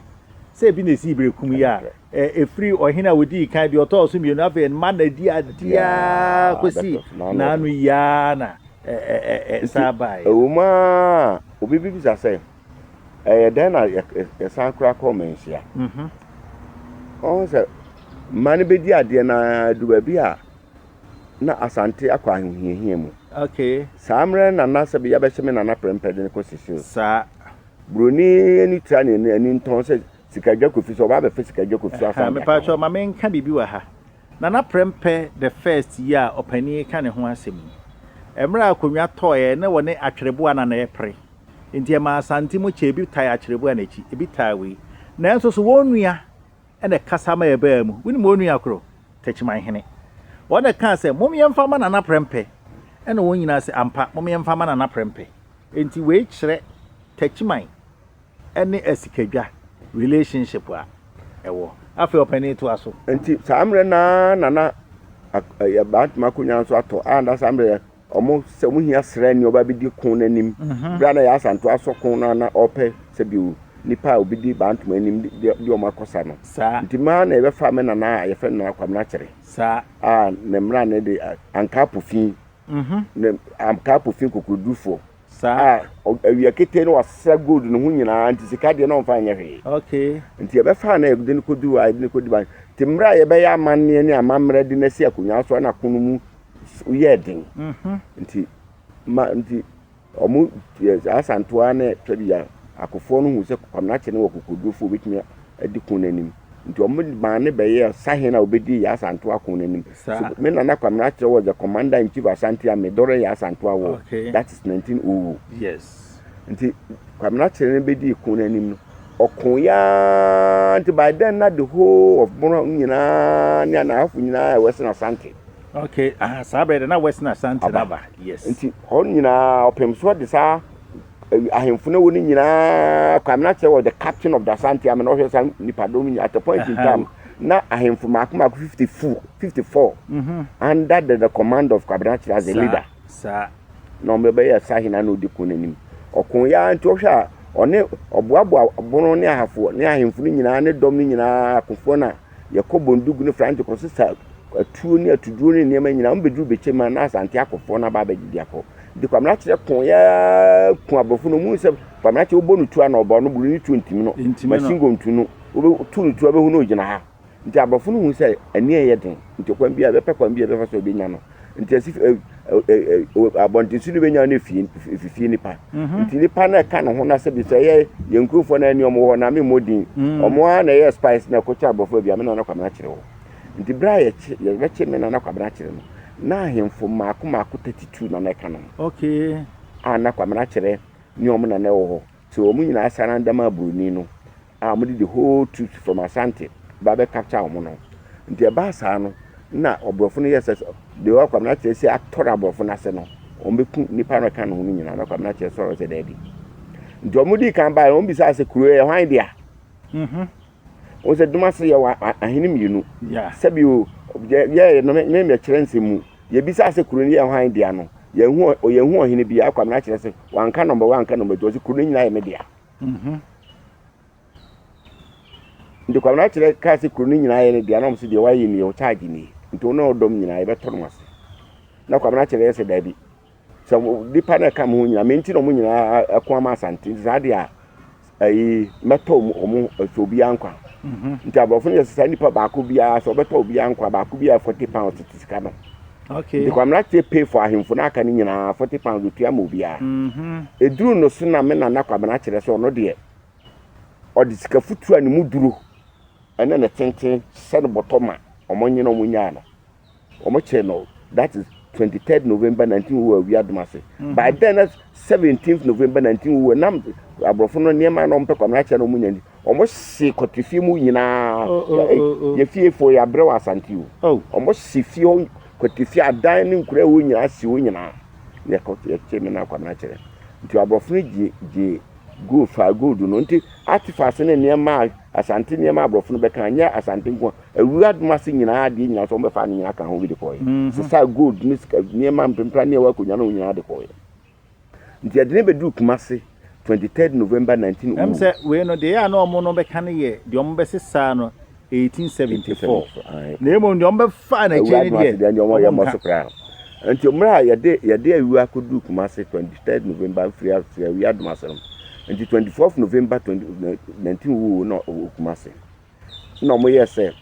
Speaker 1: Sɛ ebi na esii bere kum yi a efiri ɔhene a odii kan deɛ ɔtɔɔ so mmienu afei mma na di adeɛ ara kɔsi n'ano yi ara na ɛsan baeɛ. Ɛwom ara
Speaker 2: a, obi bebisa sɛ, ɛyɛ dɛn na yɛsan kora kɔ manhyia mhm. ɔhu sɛ mma no bɛdi adeɛ no adu baabi a na asante akɔ ahohiahia mu saa
Speaker 1: mmerɛ na na
Speaker 2: sɛ yɛbɛhyɛ me nana prɛmpɛde no kɔ sisiri saa
Speaker 1: buroni
Speaker 2: ani tra ne ani ntɔn sɛ sika dwa kofi so ɔba abɛfɛ sika dwa kofi afa mepatwɛ ma menka
Speaker 1: biribi wɔ ha nana prɛmpɛ the first yi a ɔpanin ka ne ho asɛm yi mmerɛ a akonnwa tɔɔeɛ ne wɔne atwerɛboa na na ɛpere Enti ɛmaa Asante mu kyɛe, ebi tae Akyerɛbua na akyi ebi tae wei. Nanso so wɔn nua na ɛkasa ma ɛbaa mu? Wunim wɔn nua koro? Takyimanhene. Wɔn na ɛkaa sɛ, Mom yɛmfa mma Nana Prɛmpɛ. Ɛnna wɔn nyinaa se, Ampa, mom yɛmfa mma Nana Prɛmpɛ. Enti wei kyerɛ Takyiman ne Asikadwa relationship a ɛwɔ. Afei ɔpanin toa so. Enti saa mmerɛ no
Speaker 2: ara na na Bantama akonnwa nso atɔ a na saa mmerɛ Wɔn sɛ wɔn hia sraani a ɔba bɛdi ko no anim. Berɛ a na yɛ asanto asɔ ko no a na ɔpɛ sɛ bi o nipa a obɛdi bantom anim de de wɔn akɔ sa no. Saa. Nti maa na yɛbɛfa me nana a yɛfrɛ no nana Kwamena Kyere. Saa. A
Speaker 1: ne mmra
Speaker 2: ne de a ankaa pofi. Mhm. Ne ankaa pofi kokodurufoɔ. Saa. A awia ketee no wasesa gold no ho nyinaa nti sika deɛ na ɔmfa nyɛ hwee. Okay. Nti yɛbɛfa
Speaker 1: na
Speaker 2: yɛde no kɔduru a yɛde no kɔdi ban. Nti mmerɛ a yɛbɛyɛ amanneɛ ne amammerɛ de no asi akonnwa so na ko no mu yɛɛ den. Nti ma nti wɔn Asantewa ne Twabia akofoɔ no hu sɛ Kwamena kyene wɔ kokodurofoɔ bɛtumi di ko no anim. Nti wɔmaa no bɛyɛɛ sahene a ɔbɛdii Yaa Asantewaa ako no anim. So me Nana Kwame Akyerɛ was the commander in chief Asante Army during Yaa Asantewaa war, that is 1900. Nti Kwame Akyerɛ no bɛdii ko no anim no, ɔkoeɛ ara nti by then na the whole of Bono nyinaa ne Anahafo nyinaa yɛ Western Asante.
Speaker 1: Okay, aha saa bɛyɛ dɛ na Western Asante no aba. Yes. Nti hɔ nyinaa
Speaker 2: ɔpem so de saa ahemfo no wɔ no nyinaa kɔ amena kyerɛ wɔ the captain of the asante amena ɔhwɛ sa nipadɔm nyinaa at a point in time na ahemfo mako mako fifty four fifty four mhm. under the, the command of kwabena kyerɛ as a leader saa
Speaker 1: na wɔn bɛyɛ
Speaker 2: sa hena na odi kun n'anim ɔko ya nti ɔhwɛ a ɔne ɔboaboa bono ne ahafo ne ahemfo no nyinaa ne dɔm no nyinaa akofoɔ no a Yɛkɔ Bondug ne Franche kɔsesa atuo ne atuduro ne nneɛma nyinaa. Wɔbɛduru Bekyem a, na Asante akɔfoɔ no aba abɛgye de akɔ. Nti Kwamena kyerɛ kooe ara ku aborɔfo no. Wɔhunu sɛ Kwamena kyerɛ wobɔ no tuo a, na ɔbɔ no boro ne tuo ntimi no. Machine gun tu no, wotu no tuo a, wobɛhu no ɔgyina ha. Nti aborɔfo no hunu sɛ ani reyɛ den, nti ɔkwan biara, wɔbɛpɛ kwan biara a wɔbɛfa so a wɔbɛnya no. nti asi ɛ ɛ ɛ abɔntenso no bɛnya no afie fifie nipa mhm. nti nipa no ɛka ne ho no sɛ bi sɛ ɛyɛ yɛn nkurɔfoɔ no ɛne ɔmo wɔ hɔ na me mmɔ din mhm. ɔmo ara na ɛyɛ spice na ɛkɔkyɛ abɔfoɔ bi a me nana kwamena kyerɛ hɔ nti berɛ a yɛkye yɛbɛkye me nana kwamena kyerɛ no na ahemfo mmaako mmaako thirty two na na ɛka no ho okay
Speaker 1: a na kwamena
Speaker 2: kyerɛ ne ɔmo nana wɔ hɔ sɛ ɔmo nyinaa sarandama buroni no a wɔde the whole troops from Asante ba bɛ capture wɔn no. Nti ɛbaa saa no na aborɔfo no yɛɛ sɛ deɛ ɔwɔ Kwabena Kyerɛ si atɔre aborɔfo no ase no, wɔbɛku nnipa no ɛka ne ho no nyinaa na Kwabena Kyerɛ sɔre sɛ daabi. Nti wɔn dii kan baeɛ no wɔn bisaa sɛ kuro yɛ hwan dea? Mhm. Wɔn sɛ Dumase yɛ wɔ ahene mmienu. Yeah. Sɛbi o yɛ yɛ no me me kyerɛ nsɛm mu yɛ bisaa sɛ kuro no yɛ hwan dea no yɛn hu yɛn hu ɔhene bi a Kwabena Kyerɛ sɛ wanka nɔmba wanka nɔmba tu ɔsɛ kuro no nyinaa yɛ me dea. Mhm. Nti Kwabena kyerɛ kaa sɛ kuro no nyinaa yɛ ne dea na wɔn sɛ deɛ wayɛ nie ɔkyaagye nie nti wɔn a ɔdɔm nyinaa yɛbɛtɔ no ase na Kwabena kyerɛ yɛ sɛ daabi sɛ nipa no ɛka mo ho nyinaa me nti na wɔn nyinaa ɛko ama asante nti saa deɛ a ɛyi mɛtɔ wɔn ɛsɛ obiara nkwa mhm. nti aborɔfo no yɛ sɛ saa nipa baako biara sɛ ɔbɛtɔ obiara nkwa baako biara forty pounds tete sika no Okay. Nti Kwamina tie pay for ahemfo na aka no nyinaa forty pounds otua ma obiara. Mm-hmm. Eduru no so na me nana Kwamina kyerɛ sɛ ɔno deɛ ɔde sika futu a ne mu duro ɛne ne tenten hyɛ no bɔtɔ ma ɔmo nye na ɔmo nyaa no. Ɔmo kyerɛ no that is twenty third November nineteen wo wɔ awia doma se. Mm-hmm. By then na seventeenth November nineteen wo wɔ nam aborɔfo no nneɛma na ɔmo pɛ Kwamina kyerɛ na ɔmo nya nti Ɔmo si kɔte fie mu nyinaa. Oh, oh, oh, oh, oh. Yɛ fie fo yɛ abrɛ wɔ asante o. Oh. Ɔmo si fie hɔ kɔte fie adan ne nkura ɛwɔ nyinaa si hɔ nyinaa. Yɛ kɔ yɛ kye me na akwadaa kyerɛ. Nti aborɔfo no gye gye gold fa gold no nti artifacts ne nneɛma a asante nneɛma aborɔfo no bɛka nyɛ asante nko a awura adum ase nyinaa adeɛ nyinaa so wɔn bɛfa ne nyinaa ka ho bi de kɔɛ. Mm-hmm. Sisaa gold ne sika nneɛma mpempra ne ɛwɔ akonnwa no nyinaa de kɔɛ. Nti yɛde no bɛduru Kumasi twenty third November nineteen oh. Ɛm sɛ wei no deɛ
Speaker 1: a na wɔn no bɛka no yɛ deɛ wɔn bɛsesaa no eighteen seventy four. Na emu deɛ wɔn bɛfa na ɛkyɛ no deɛ deɛ wɔn yɛ mɔ so
Speaker 2: koraa. Nti mmerɛ a yɛde yɛde awi akɔduru Kumasi twenty third November mfiri afiri awi adum ase no. Nti twenty fourth November twenty nineteen wo na wɔ Kumasi. Na wɔn yɛ sɛ.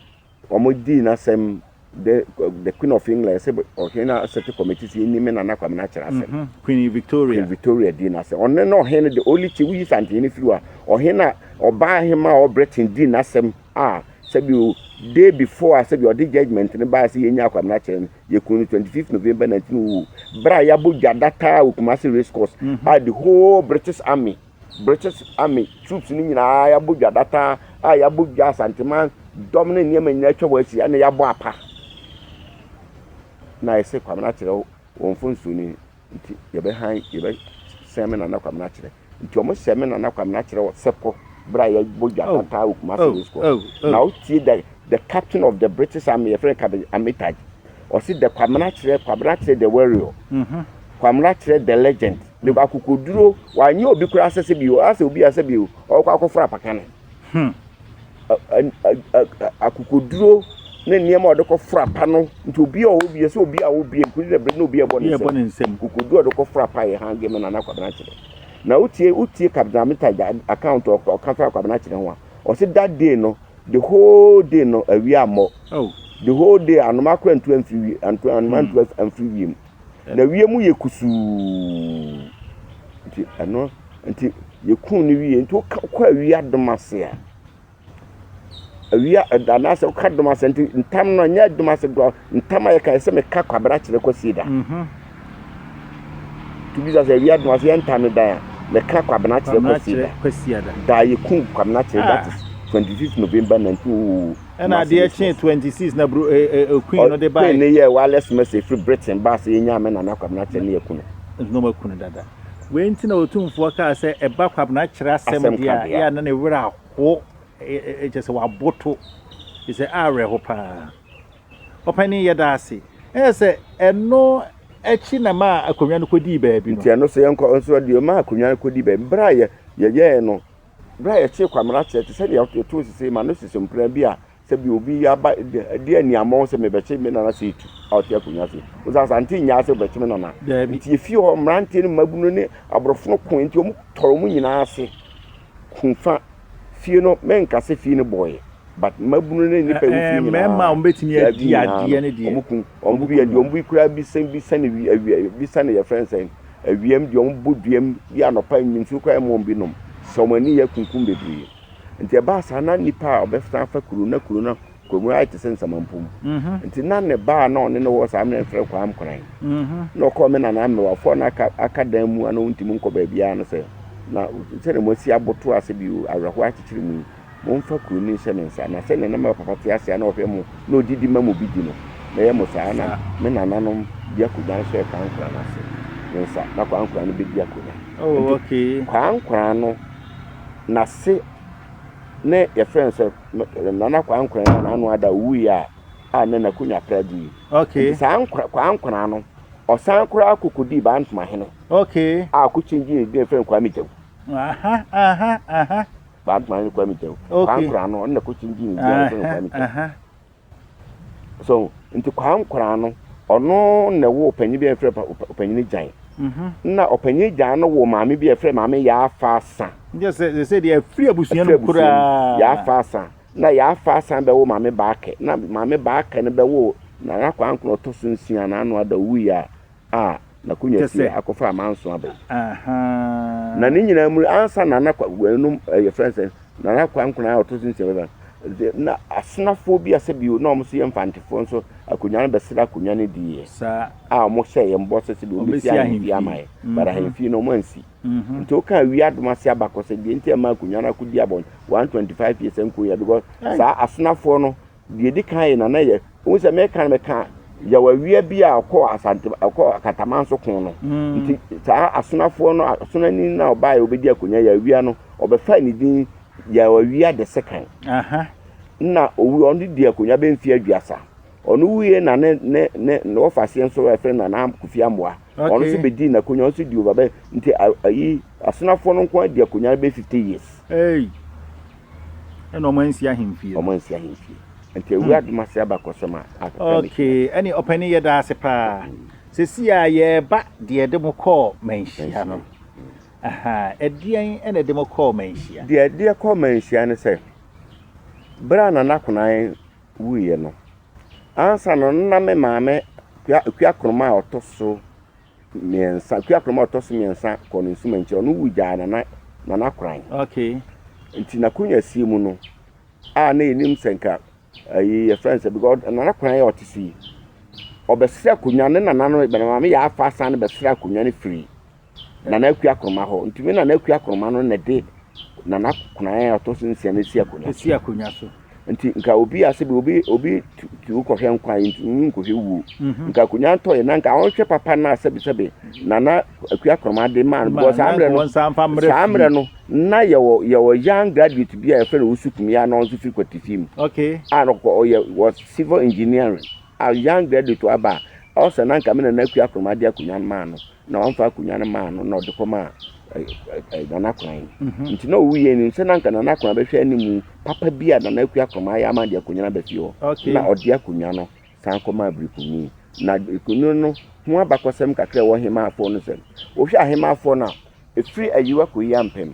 Speaker 2: Wɔdii n'asɛm dɛ The Queen of England, sɛ Ɔhen Asete Kɔmiti si nyi me Nana Kwame n'akyerɛ asɛm. Queen Victoria. Queen
Speaker 1: Victoria dii n'asɛm. Ɔno na
Speaker 2: Ɔhen the only chief, woyi Santene no firi hɔ a, Ɔhen a Ɔbaahemaa ɔwɔ Britain dii n'asɛm a sɛbio day before a sɛbio ɔde judgement no baeɛ sɛ yɛnyaa Kwame n'akyerɛ no, yɛkuu no 25th November 1900 berɛ a yɛabɔ dwa dataa wɔ Kumasi Racecourse a the whole British Army British army troops no nyinaa yɛabɔ dwa data a yɛabɔ dwa asanteman dɔm ne nneɛma nyinaa atwa wɔn asi ɛna yɛabɔ apa na yɛsɛ kwamena akyerɛ wɔn fo nsuo no nti yɛbɛhan yɛbɛsɛn me nana kwamena akyerɛ nti wɔn sɛ me nana kwamena akyerɛ wɔ sɛpɔ berɛ a yɛbɔ dwa oh, data wɔ kumase oh, disco oh, na wotie the the captain of the british army yɛfrɛ kabe amitaj ɔse the kwamena akyerɛ kwamena akyerɛ the warrior mm-hmm. kwamena akyerɛ the legend Ne ba akokoduro wanyɛ obi koraa sɛ sɛ bio asɛ obi asɛ bio ɔkɔ akɔforo apaka no hmm. akokoduro ne nneɛma a ɔde kɔforo apa no nti obi a ɔwɔ bi sɛ obi a ɔwɔ bi nkuli dɛ bere na obi a ɛbɔ ne nsam akokoduro a ɔde kɔforo apa yɛ han gɛmɛ na na akwabena kyerɛ na wotie wotie kabena meta account ɔka fa akwabena kyerɛ ho a ɔsi that day no the whole day no awia mmɔ oh. the whole day anoma akora ntu amfiri anoma ntu amfiri wiem. Na wiem yɛ kusuu. Nti ɛno nti yɛkuu no wie. Nti wokɔ awia dom ase a, awia anaasɛ woka dom ase nti ntam no ɛnyɛ dom ase gua ntam a yɛka sɛ meka kwabena kyerɛ kwasie da. Mhm. Tubisa sɛ awia dom ase yɛ ntam dan a meka kwabena kyerɛ kwasie da. Da yɛkuu kwabena kyerɛ that is 26 November 1900. ɛna adeɛ kyee
Speaker 1: twenty six na bro eh, eh, eh, queen no de baa queen no yɛ wireless message
Speaker 2: firi britain baa sɛ yɛnya me nana kwabena kyɛ ne yɛku no no makunu dada
Speaker 1: wei nti na ɔtumfoɔ kaa sɛ ɛba kwabena kyerɛ asɛm Asɛm deɛ a kadeɛ a. yɛ a na ne werɛ aho kyɛ sɛ waboto kyɛ sɛ awerɛho paa ɔpɛne yɛ da ase ɛyɛ sɛ ɛno akyi na ma akonnwa no kɔdii baabi no nti ɛno so yɛnkɔ nso
Speaker 2: deɛ ɔma akonnwa no kɔdi baabi berɛ a yɛ- yɛyɛɛ no Berɛ a yɛtee Kwamina kyerɛ te sɛ deɛ yɛtoo sesei ma no sese mpena bi a sɛ bi obi aba de aniammɔn sɛ mebɛkye me nana sɛ etu a ɔte akonnwa ase. Wo sɛ Asante nyaa sɛ wobɛkye me nana. Nti efie hɔ mmeranteɛ no mmabunu ne aborɔfo no koe nti wɔn tɔre wɔn nyinaa ase ko fa fie no. Menka sɛ fie no bɔeɛ. But mmabunu ne nnipa a wɔfiri nyinaa, mmarima a wɔbɛtumi adi
Speaker 1: adeɛ no deɛ, wɔkum wɔn. Wɔbu yɛ deɛ
Speaker 2: wɔbu yi koraa bi sɛn bi sɛn awi awi bi sɛn yɛfrɛ no sɛn awiam deɛ wɔbu duam bi anɔpa nsuo koraa ɛmɔ wɔn bi nom sɛ wɔn ani yɛ kunkum bebree nti ɛbaa saa na nipa a ɔbɛsan fa kuro na kuro na kuro mu ayɛ te sɛ nsamampom mhm. nti na ne baa na ɔne no wɔ saa mmerɛ mfrɛ kɔ amkoran mhm. na ɔkɔ me nana mmewafoɔ na aka aka dan mu a na wɔntumi nkɔ baabiara no sɛ na sɛdeɛ moasi aboto ase bi awerɛhoɔ akyekyere mu yi Momfa kuro no nhyɛ me nsa, na sɛdeɛ na me papa te ase a na ɔhwɛ mo na ɔdidi ma mo bi di no, mɛyɛ mo saa ara na me nananom de akonnwa nso rekaa nkora no ase ne nsa, na kwaa nkora no bɛdi akonnwa. Enti kwaa
Speaker 1: nkora no
Speaker 2: n'ase ne yɛfrɛ no sɛ nana kwaa nkora no n'ano ada ɔwuiɛ a a na n'akonnwa pra gu yi. Enti saa nkora
Speaker 1: kwaa
Speaker 2: nkora no ɔsan koraa kɔkɔdii baa ntomahene a
Speaker 1: ɔkɔkyingyee ne
Speaker 2: yɛfrɛ no kwaa megyawu. Aha aha
Speaker 1: aha. Badman
Speaker 2: ne Kwame Kyɛw. Kwankora no, ɔno na ɛkɔkye gye ne din a yɛfrɛ no Kwame Kyɛw. So, nti Kwankora no, ɔno na ɛwɔ ɔpanyin bi a yɛfrɛ ɔpanyin Gyan. Mm-hmm. Na ɔpanyin Gyan no wɔ maame bi a yɛfrɛ maame Yaafa Asa. Yɛ sɛ sɛ deɛ
Speaker 1: afiri abusua no koraa. Yaafa Asa.
Speaker 2: Na Yaafa Asa bɛwɔ maame Baakɛ. Na maame Baakɛ no bɛwɔ Nana Kwankora ɔtɔ so nsia na ano ada owuiɛ a a n'akonwa si a akɔfa amanso aba yi. Na ne nyinaa mu ansa Nana ɛnum yɛfrɛ no sɛ Nana Kwankwanaa a ɔto so nsia bɛba de na asonafoɔ bi a sɛbi na wɔn nso yɛ mfantefoɔ nso akonwa no bɛsrɛ akonwa no diiɛ a wɔn
Speaker 1: hyɛ yɛn bɔ
Speaker 2: sɛ sɛbi wɔn bɛsi ahemfie ama yɛ but ahemfie no wɔn ansi nti woka awie adom ase abakɔ sɛ deɛ nti ɛma akonwa no akɔdi abɔn one twenty five years nko yɛ because saa asonafoɔ no Deɛ ɛdi kan yɛ nana yɛ wohu sɛ meka no meka yɛwɔ awia bi a ɔkɔɔ asante ɔkɔɔ akataman so ko no mm. nti saa asonafoɔ no asonani no a ɔbaa yɛ ɔbɛdi akonnwa yɛ awia no ɔbɛfa ne din yɛ awia de sekan na owu ɔno di akonnwa bɛmfie aduasa ɔno wuie na ne ne ne ne wɔfa aseɛ nso ɛfrɛ nana kofi amoa Wɔn okay. nso bɛdii n'akonwa wɔn nso di over bɛ nti ayi asenafoɔ no nko adi akonwa no bɛ fifty years. Hey. ɛna
Speaker 1: wɔn ansi ahemfie. wɔn ansi ahemfie
Speaker 2: nti ewu hmm. adum ase aba kɔsɛm a akeka ne okay
Speaker 1: ɛne ɔpɛni yɛ daa ase paa hmm. sisi a yɛreba deɛ de mo kɔɔ manhyia no ɛdeɛn ɛna ɛde mo kɔɔ manhyia. deɛ ɛdeɛ kɔɔ manhyia
Speaker 2: no sɛ bere a nana konan wuiɛ no, ansa no na me maame Kuakroma a ɔtɔ so mmiɛnsa Kuakroma a ɔtɔ so mmiɛnsa kɔɔ ne nsumankyerɛ ɔno wu gyaa nana nana koran okay.
Speaker 1: nti n'akonnwa
Speaker 2: sie mu no a na yɛnim sɛ nka ayi yɛfrɛ no sɛ because nana koran yɛ ɔte so yi ɔbɛsrɛ akonnwa ne nana no maame yɛ afa asan no bɛsrɛ akonnwa no firi Nana Akua Akoroma hɔ. Ntumi Nana Akua Akoroma no na de Nana Kokonae a ɔtɔ so nsia no si akonnwa so. Esi akonnwa so. Nti nka
Speaker 1: obi
Speaker 2: ase bi obi obi tu kɔhwɛ nkwa yi ntumi nkɔhwɛ wuo. Mhm. Nka akonnwa ntɔɛ na nka ɔnhwɛ papa no a sɛbesɛbe Nana Akua Akoroma de maa no bɔ saa mmerɛ no. Saa mmerɛ no na yɛwɔ yɛwɔ young graduate bi a yɛfrɛ no Usu Kumi a na ɔnso firi Kwati fie mu. Okay. A na
Speaker 1: ɔyɛ wɔ
Speaker 2: civil engineering a young graduate aba a ɔsɛ na nka me Nana Akua Akoroma de akonnwa no maa no. na ɔmfa akonnwa no maa no na ɔde kɔmaa Nana Akran yi mhm. nti na ɔwuiɛ nim sɛ na anka Nana Akran bɛhwɛ animu papa bi a Nana Akua Akoroma ayɛ ama de akonnwa no aba fie hɔ na ɔde akonnwa no san kɔmaa Birikuni na Birikuni no ho abakɔsɛm kakra ɛwɔ Hemaafoɔ no sɛm wohwɛ Ahemaafoɔ no a ɛfiri ayiwa kɔyi ampem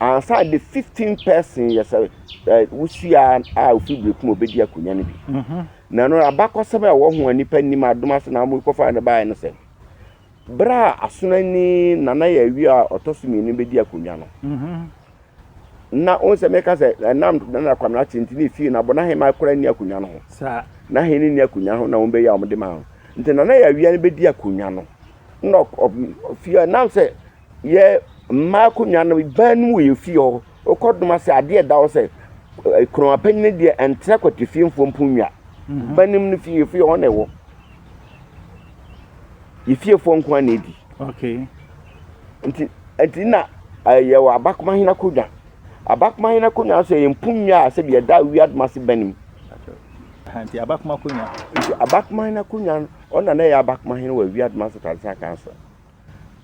Speaker 2: Ansa the fifteen person yɛ sɛ ɛ wusua a ofi bere ko mu obedi akonnwa no bi. Na no abakɔsɛm a ɛwɔ ho a nipa nim adom ase na wɔn kɔfa no baeɛ no sɛ bere a asonani nana yɛ awie a ɔtɔ so mmienu bedi akonnwa no. Na wɔn sɛ mɛka sɛ ɛnam nana kwamina ate nti ne fie na bɔ n'ahema kora ni akonnwa no ho. N'ahene
Speaker 1: ni akonnwa
Speaker 2: ho na wɔn bɛyɛ a wɔde maa no. Nti nana yɛ awia no bedi akonnwa no. Na fie nam sɛ yɛ mmaa akonnwa no dan no mu yɛ fie hɔ. Wokɔ dom ase a, adeɛ a ɛda hɔ sɛ eh, kuroma panyin no deɛ ɛntra kwati fie mfo mpo nnwa. Mhm. Ba nim no fie yɛ fie hɔ na ɛwɔ. Yɛ fiefoɔ nko ara na ɛdi.
Speaker 1: Okay.
Speaker 2: Nti nti na eh, yɛwɔ abakoma hene akonnwa. Abakoma hene akonnwa nso yɛ mpo nnwa a sɛbi ɛda awia dom ase ba nim. Aha,
Speaker 1: Nti abakoma akonnwa. Nti abakoma hene
Speaker 2: akonnwa no ɔna na ɛyɛ abakoma hene wɔ awia dom ase tansa kan so.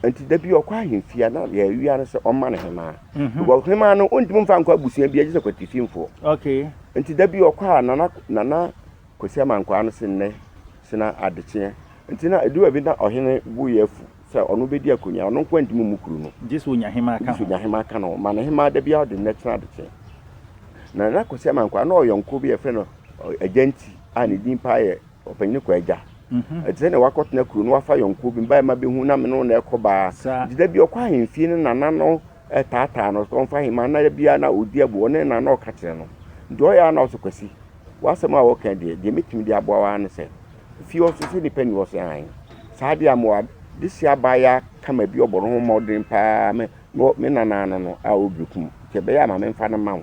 Speaker 2: Nti da bi ɔkɔ ahemfie a na deɛ awia no sɛ ɔmma no hemaa. Mhm. Because hemaa no ɔntumi mfa nkɔ abusua bi agye sɛ kwatifimfoɔ. Okay. Nti
Speaker 1: da bi ɔkɔ a
Speaker 2: nana nana Kwesi Amankwaa no se nnɛ se na adekyeɛ. Nti na ɛdu baabi na ɔhene bo yɛ afu sɛ ɔno bɛdi akonnwa ɔno nko ntumi mmu kuro no. Gye sɛ ɔnya hemaa ka Gye sɛ ho.
Speaker 1: ɔnya hemaa ka no ho. Ma no hemaa da
Speaker 2: biara ɔde nnɛ kyena adekyeɛ. Na nana Kwesi Amankwaa na ɔyɔnko bi a yɛfrɛ no ɔ, Agyanti a ne din paa yɛ Ɔpanyin no kɔ agya. Ɛte sɛ nea wakɔtena kuro no wafa yɔnkoɔ bi mbaeɛ ma bɛhu na me ne wo na ɛkɔ baa. Nti da bi ɔkɔ ahemfie no nana no taataa no sɛ ɔmfa ahema na da biara na ɔdi abu ɔne nana na ɔka kyerɛ no. Nti ɔyɛ a na ɔsɛ Kwasi w'asɛm a wɔka deɛ deɛ mɛtumi de aboa wo ara ne sɛ fie hɔ so sɛ nnipa nni hɔ sɛ hann saa deɛ a mewɔ adehyeɛ abaayaa kama bi ɔbɔ ne ho mmɔden paa me nana no no a ɔbrɛ kum nti ɛbɛyɛ a ma memfa no ma wo.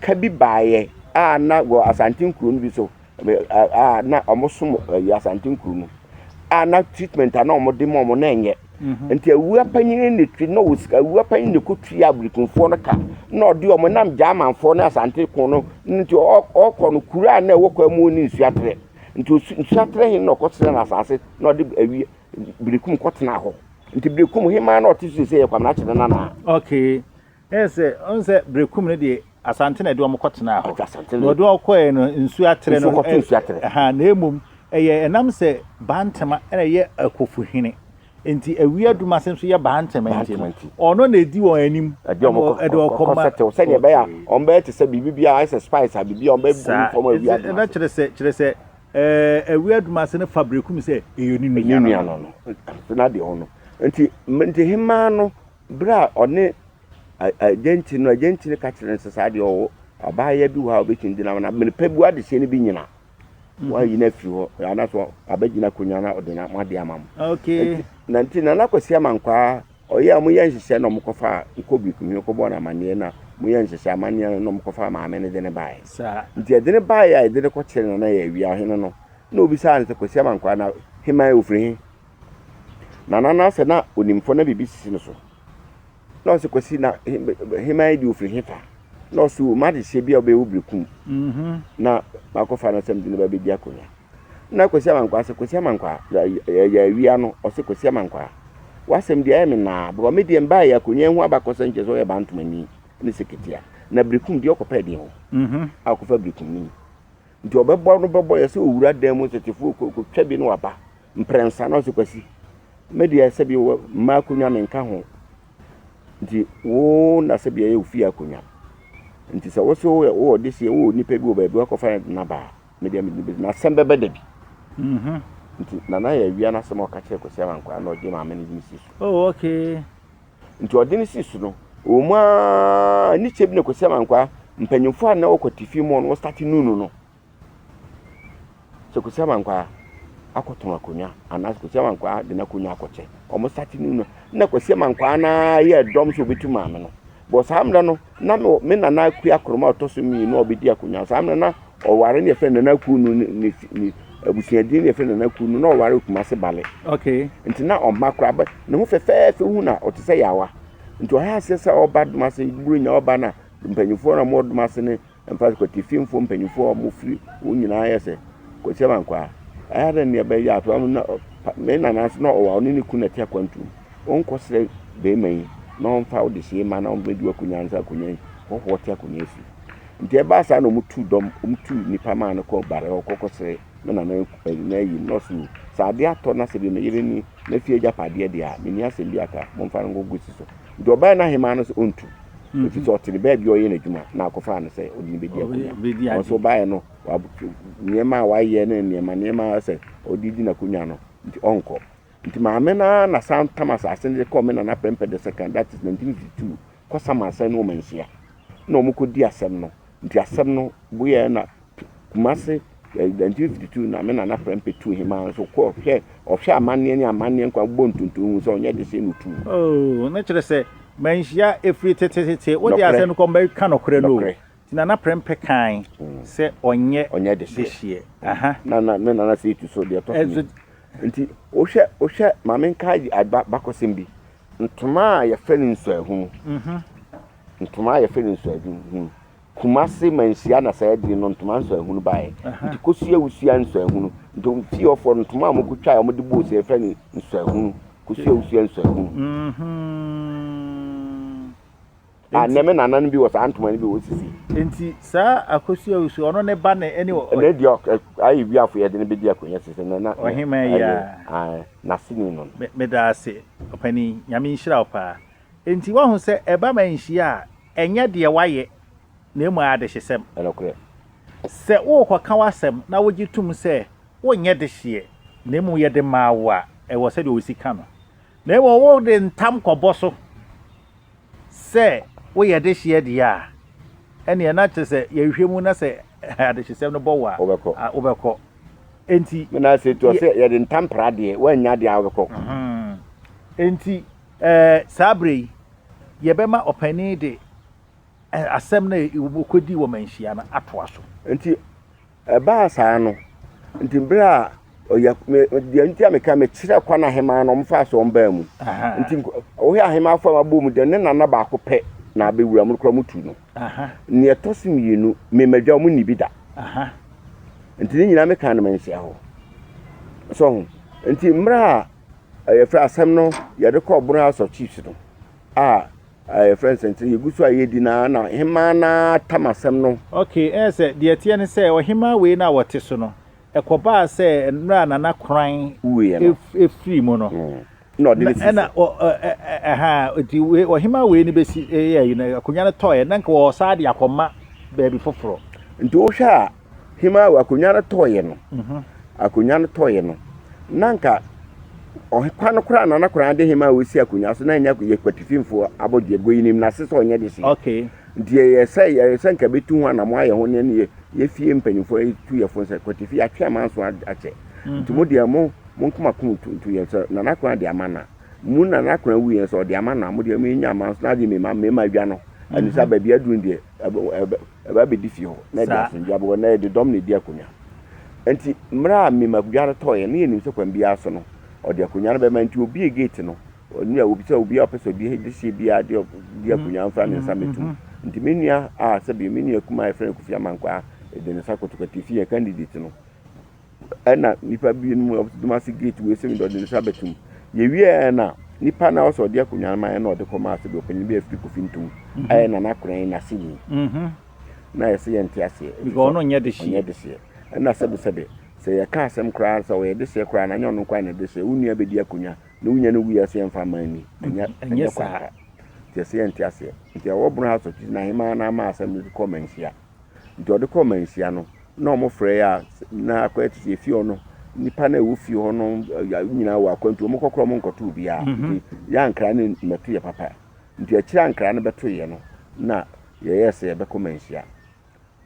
Speaker 2: ka bi baeɛ a na wɔ Asante nkuro no bi so a na wɔsom ɛyɛ Asante nkuro no a na treatment a na wɔde ma wɔn na ɛnyɛ mhm. nti awua panyin ne twi na wɔ awua panyin ne ko twi abirikunfoɔ no ka na ɔde wɔn nam gyamanfoɔ ne Asante ko no nti ɔkɔ no kuro a na ɛwɔ kwan mu ne nsuatere nti nsuatere hin na ɔkɔ sena na asase na ɔde awie birikum kɔ tena hɔ nti birikum hin maa na ɔte so sɛ yɛ kwamina kyerɛ nana. okay.
Speaker 1: Ɛyɛ sɛ ɔn sɛ Brekum no deɛ Asante na ɛde wɔn kɔ tenaa hɔ. Na ɔde wɔn kɔɛ no nsuo atere no ɛha na ɛmom ɛyɛ ɛnam sɛ Bantama na ɛyɛ Akofo hene nti Awia Dumase nso yɛ Bantama nti no ɔno na ɛdi wɔn anim ɛde wɔn kɔ
Speaker 2: ma. Sɛdeɛ ɛbɛyɛ a wɔn bɛyɛ te sɛ biribi biara ayɛ sɛ spice a biribi a wɔn bɛgu mu fam Awia Dumase. Saa kyerɛ sɛ kyerɛ sɛ
Speaker 1: ɛɛ Awia Dumase no fa Brekum sɛ ɛyɛ ne nua no.
Speaker 2: Ɛna deɛ ɔno nti nti hemaa no Berɛ a ɔne agya nti no, agya nti no ka kyerɛ no sɛ saa deɛ ɔwɔ abaayewa bi wɔ hɔ a ɔbɛtumi de nam na mene pɛ bu adehyɛ no bi nyina mhm. wayi no afiri hɔ anaso abɛgyina akonnwa na ɔde nam ade ama mo na
Speaker 1: nti na nakwasi
Speaker 2: ama nkwaa ɔyɛ a moyɛ nhyehyɛ na ɔmokɔfa nkɔ bi kuhwɛ kɔbɔ no amanneɛ na moyɛ nhyehyɛ amanneɛ no na ɔmokɔfa maame no de ne baeɛ nti ɛde ne
Speaker 1: baeɛ a
Speaker 2: ɛde ne kɔkyerɛ no na yɛ awia hene no na obisaa no sɛ kwasi ama nkwaa na heman ofiri he Na Nana no sɛ na onim fo na biribi sisi no so. Na ɔsɛ Kwasi na heman yi de ofiri hefa? Na ɔsɛ o m'adehyeɛ bi a wobɛyɛ wo bere kum. Mhm. Na makɔfa no sɛ mede no bɛbɛdi akonnwa. Na Kwasi Amankwaa sɛ Kwasi Amankwaa yɛ awia no ɔsɛ Kwasi Amankwaa w'asɛm deɛ ayɛ me naa because me deɛ mbaeɛ akonnwa yi ho abakɔsɛm kyerɛ sɛ ɔyɛ Bantomani ne Seketea na bere kum deɛ ɔkɔpɛ deɛ hɔ mhm. a ɔkɔfa bere kum no ni nti ɔbɛbɔ no bɛbɔ yɛ sɛ owura dan mu nso tefoɔ kɔtwa bi na waba. Mprɛnsa na ɔse Kwasi, me deɛ sɛbi wɔ mmaa akonnwa menka ho, nti wo na sɛbi ɛyɛ wo fie akonnwa, nti sɛ wose woyɛ wowɔ deseɛ wowɔ nipa bi wɔ baabi wakɔfa yɛ na baa, me deɛ mede bɛsi na asɛm bɛbɛ da bi. Mhm. Nti Nana yɛ awia n'asɛm a ɔka kyerɛ Kwasi Amankwaa na ɔgye maame no de no si so. Oh okay.
Speaker 1: Nti ɔde
Speaker 2: no si so no, wɔ mu ara ne kyɛ bi na Kwasi Amankwaa mpanyinfoɔ a na wɔ kwatifi mu hɔ no wɔ starte nunu no. Sɛ Kwesi Amankwaa akɔtɔn akonwa anaa sɛ Kwesi Amankwaa de n'akonwa akɔkyɛ, wɔn sate no no, na Kwesi Amankwaa no ara yɛ dɔm sɛ ɔbɛtu maame no. Bɔ saa mmerɛ no, na me nana Akua Akoroma a ɔtɔ so mmienu a ɔbɛdi akonwa. Saa mmerɛ na ɔware ne yɛfrɛ Nana Akuo no ne ne abusuadini ne yɛfrɛ Nana Akuo no na ɔware Kumase Bale. Okay. Nti na
Speaker 1: ɔmma koraa
Speaker 2: bɛ ne ho fɛfɛɛfɛ hu na ɔte sɛ yaawa. Nti ɔyɛ aseɛ sɛ ɔba Domase Buronya ɔba na mpanyinfoɔ na wɔwɔ Domase ne Ɛmfa sɛ Kwatififoɔ mpanimfoɔ a wɔfiri wɔn nyinaa ayɛ sɛ Kwasi Amankwa a, ɛyɛ dɛn na ɛbɛyɛ a afei na me nana nso na ɔwɔ a ɔne ne kunu na ɛte akwantuo mu. Wonkɔsrɛ barima yi na ɔmfa wo dehyeɛ mma na ɔmmɛdi w'akonnwa ansa akonnwa yi hɔhoɔ te akonnwa afiri. Nti ɛbaa saa na wɔtuu dɔm, wɔtuu nnipa maa no kɔɔ Bare hɔ kɔkɔsrɛɛ me nana n'ayie mu na ɔse oo, sɛ adeɛ atɔ na sɛ bi me yere ne n'afie agyapadeɛ deɛ a, menni asɛm bi aka, momfa no nkɔgu si so. Nti ɔbaeɛ na ahemaa no se ɔntu. ɛfiri sɛ ɔte ne baabi a ɔyɛ n'adwuma na akɔfaa no sɛ ɔde no bɛdi akonnwa ɔnso baeɛ no nneɛma a wayɛ ne nneɛma nneɛma sɛ ɔde di n'akonnwa no nti ɔnkɔ nti maame no ara na san tam asase no de kɔɔ me nana pɛmpɛ the second that is 1952 kɔsam asɛn no wɔn nhyia na wɔn kɔdi asɛm no nti asɛm no boyɛ na Kumase, eh, 1952 na me nana Prempeh tuu hemaa nso kɔɔ hwɛ, ɔhwɛ amanneɛ ne amanneɛ nkwa bɔ ntonto hu sɛ ɔnyɛ de sɛ no tuu. Oh, ne kyerɛ sɛ
Speaker 1: manhyia ɛfiri tetetete, wode asɛ no kɔ mɛka nɔkorɛ no o. Ti nana Prempeh kae mm. sɛ ɔnyɛ, ɔnyɛ de hyeɛ. Aha. Na, na me nana sɛ ɛtu
Speaker 2: so deɛ ɛtɔ so eh, nti wohwɛ, wohwɛ ma menka bakɔsɛm bi ntoma a yɛfrɛ no nsuahunu mm -hmm. ntoma a yɛfrɛ no nsuahunu Kumase manhyia na saa adiri no ntoma nsɔahunu baeɛ nti kosua wusua nsɔahunu nti wɔn fie hɔfoɔ no ntoma a wɔn ko twae a wɔn de bɔɔ sɛ yɛfrɛ no nsɔahunu kosua wusua nsɔahunu a nɛ me nana no bi wɔ saa ntoma no bi wɔ sisi. Nti saa
Speaker 1: akosua wusua ɔno ne ba ne ɛne wɔ. Ɛnɛ deɛ ayɛ
Speaker 2: wiafo yɛde no bɛdi akonnwa sisi na na. Ɔhema yi
Speaker 1: a. N'aseni
Speaker 2: no. Meda ase
Speaker 1: ɔpanin nyame nhyira wo paa. Enti woahu sɛ ɛba ma nhyia a, ɛnyɛ deɛ woayɛ, na mmom ɛyɛ adehyesɛm. Nokorɛ
Speaker 2: sɛ
Speaker 1: worekɔka w'asɛm na wogye tom sɛ wonyɛ dehyeɛ, na mmom yɛde maa wo a, ɛwɔ sɛdeɛ osi ka no, na mmom wode ntam kɔbɔ so sɛ woyɛ dehyeɛ deɛ a, ɛnneɛ na kyerɛ sɛ yɛhwɛ mu na sɛ adehyesɛm no bɔ wo a, wobɛkɔ. Enti. Menase toa sɛ,
Speaker 2: Yɛde ntam pra deɛ, woannya deɛ a wobɛkɔ.
Speaker 1: Enti Ɛɛ, saa bere yi, yɛbɛma ɔpanyin de asɛm no a wokodii wɔ manhyia no atoa so. Enti
Speaker 2: ɛbaa saa no, enti bere a ɔya me deɛ nti a meka mekyerɛ kwan ahemaa no wɔmfaa so wɔn baa mu. Enti ɔhwɛ ahemaa fam abɔ mu dɛ ne nana baako pɛ na abɛwura mu kora mu tu no. Nea ɛtɔ so mmienu, me madwa wɔn nni bi da. Enti ne nyinaa meka no manhyia hɔ. So ho? Enti mmerɛ a yɛfrɛ asɛm no yɛde kɔ ɔboro house of chiefs no a yɛfrɛ nsɛntene yɛgu so a yɛdi no na hemaa no ara tam asɛm no. Ok, ɛyɛ sɛ deɛ
Speaker 1: ɛteɛ ne sɛ ɔhemaa wei no a wɔte so no, ɛkɔbaa sɛ mmerɛ a Nana Koran firii mu no, na ɔde no
Speaker 2: sii so.
Speaker 1: Ɛhaa, nti ɔhemaa wei no bɛsi, ɛyɛ, akonnwa no tɔɔɛ, na nka wɔwɔ saa de akɔma baabi foforɔ. Nti wohwɛ a,
Speaker 2: Hima awo akonnwa no tɔeɛ no, akonnwa no tɔeɛ no, na anka ɔkwa no koraa nana koraa de hima a wɔsi akonnwa so na ɛnyɛ yɛ kwatifimfoɔ abɔdeɛ go yinim n'ase sɛ ɔnyɛ de se okay nti yɛyɛ
Speaker 1: sɛ
Speaker 2: yɛyɛ sɛ nka bɛtu ho anamo ayɛ ho ne ne yɛfie mpanyimfoɔ tu yɛ fo sɛ kwatifi atwe amanso akyɛ mhm. nti mo deɛ mo mo nkoma ko ntu yɛ sɛ nana koraa de ama na mu nana koraa wu yɛn sɛ ɔde ama na mo deɛ mo nya amanso na agye mema mema adwa no mhm. anisa baabi aduru deɛ Ɛba abɛdi fie hɔ, na ɛde asomdwoeɛ aba hɔ, na ɛde dɔm na ɛdi akonnwa. Enti mmerɛ a Mim akonnwa no tɔeɛ, na yɛnim sɛ kwan biara so no, ɔde akonnwa no bɛma, enti ɔbuee gate no, ɔnua, ɔbi sɛ obiara a ɔpɛ sɛ ɔdi dehyeɛ biara de ɔdi akonnwa no mfra ne nsa mmɛto mu. Enti me nua a, sɛbe, me nua kumaa a yɛfrɛ no Kofi Amankwaa de ne nsa kɔto kati fii yɛn candidate no. Ɛna nnipa binom a wɔte Dumasi gate wei sɛ mi de ɔde ne nsa bɛto mu. Yɛwieɛ na nipa na ɔsɛ ɔde akonnwa no ma yɛn na ɔde kɔma asɛ bi ɔpanyin bi a ɛfiri kofi ntom mhm. ayɛ na n'akoran n'aseni mhm. na yɛsɛ yɛn te aseɛ ɔno nyɛ
Speaker 1: deseɛ ɛna sɛbesɛbe
Speaker 2: sɛ yɛka asɛm koraa sɛ ɔyɛ deseɛ koraa na nyɛ ɔno koraa na deseɛ wo nua bɛdi akonnwa na wo nya no wuyɛ sɛ yɛmfa ma ni ɛnyɛ kwaka
Speaker 1: nti ɛsɛ yɛn te
Speaker 2: aseɛ nti ɛwɔ bono house of chiefs na ahema na ama asɛm no kɔ manhyia Nti ɔde kɔɔ manhyia no na ɔmo frɛ yɛ a na akɔyɛ te sɛ efie hɔ no nipa na ɛwɔ fie hɔ no nyinaa wɔ akwantu ɔmo kɔkora ɔmo nkɔto obiara mhm. nti yɛ ankara no mmɛto yɛ papa nti akyire ankara no bɛto yɛ no na yɛyɛ sɛ yɛbɛkɔ manhyia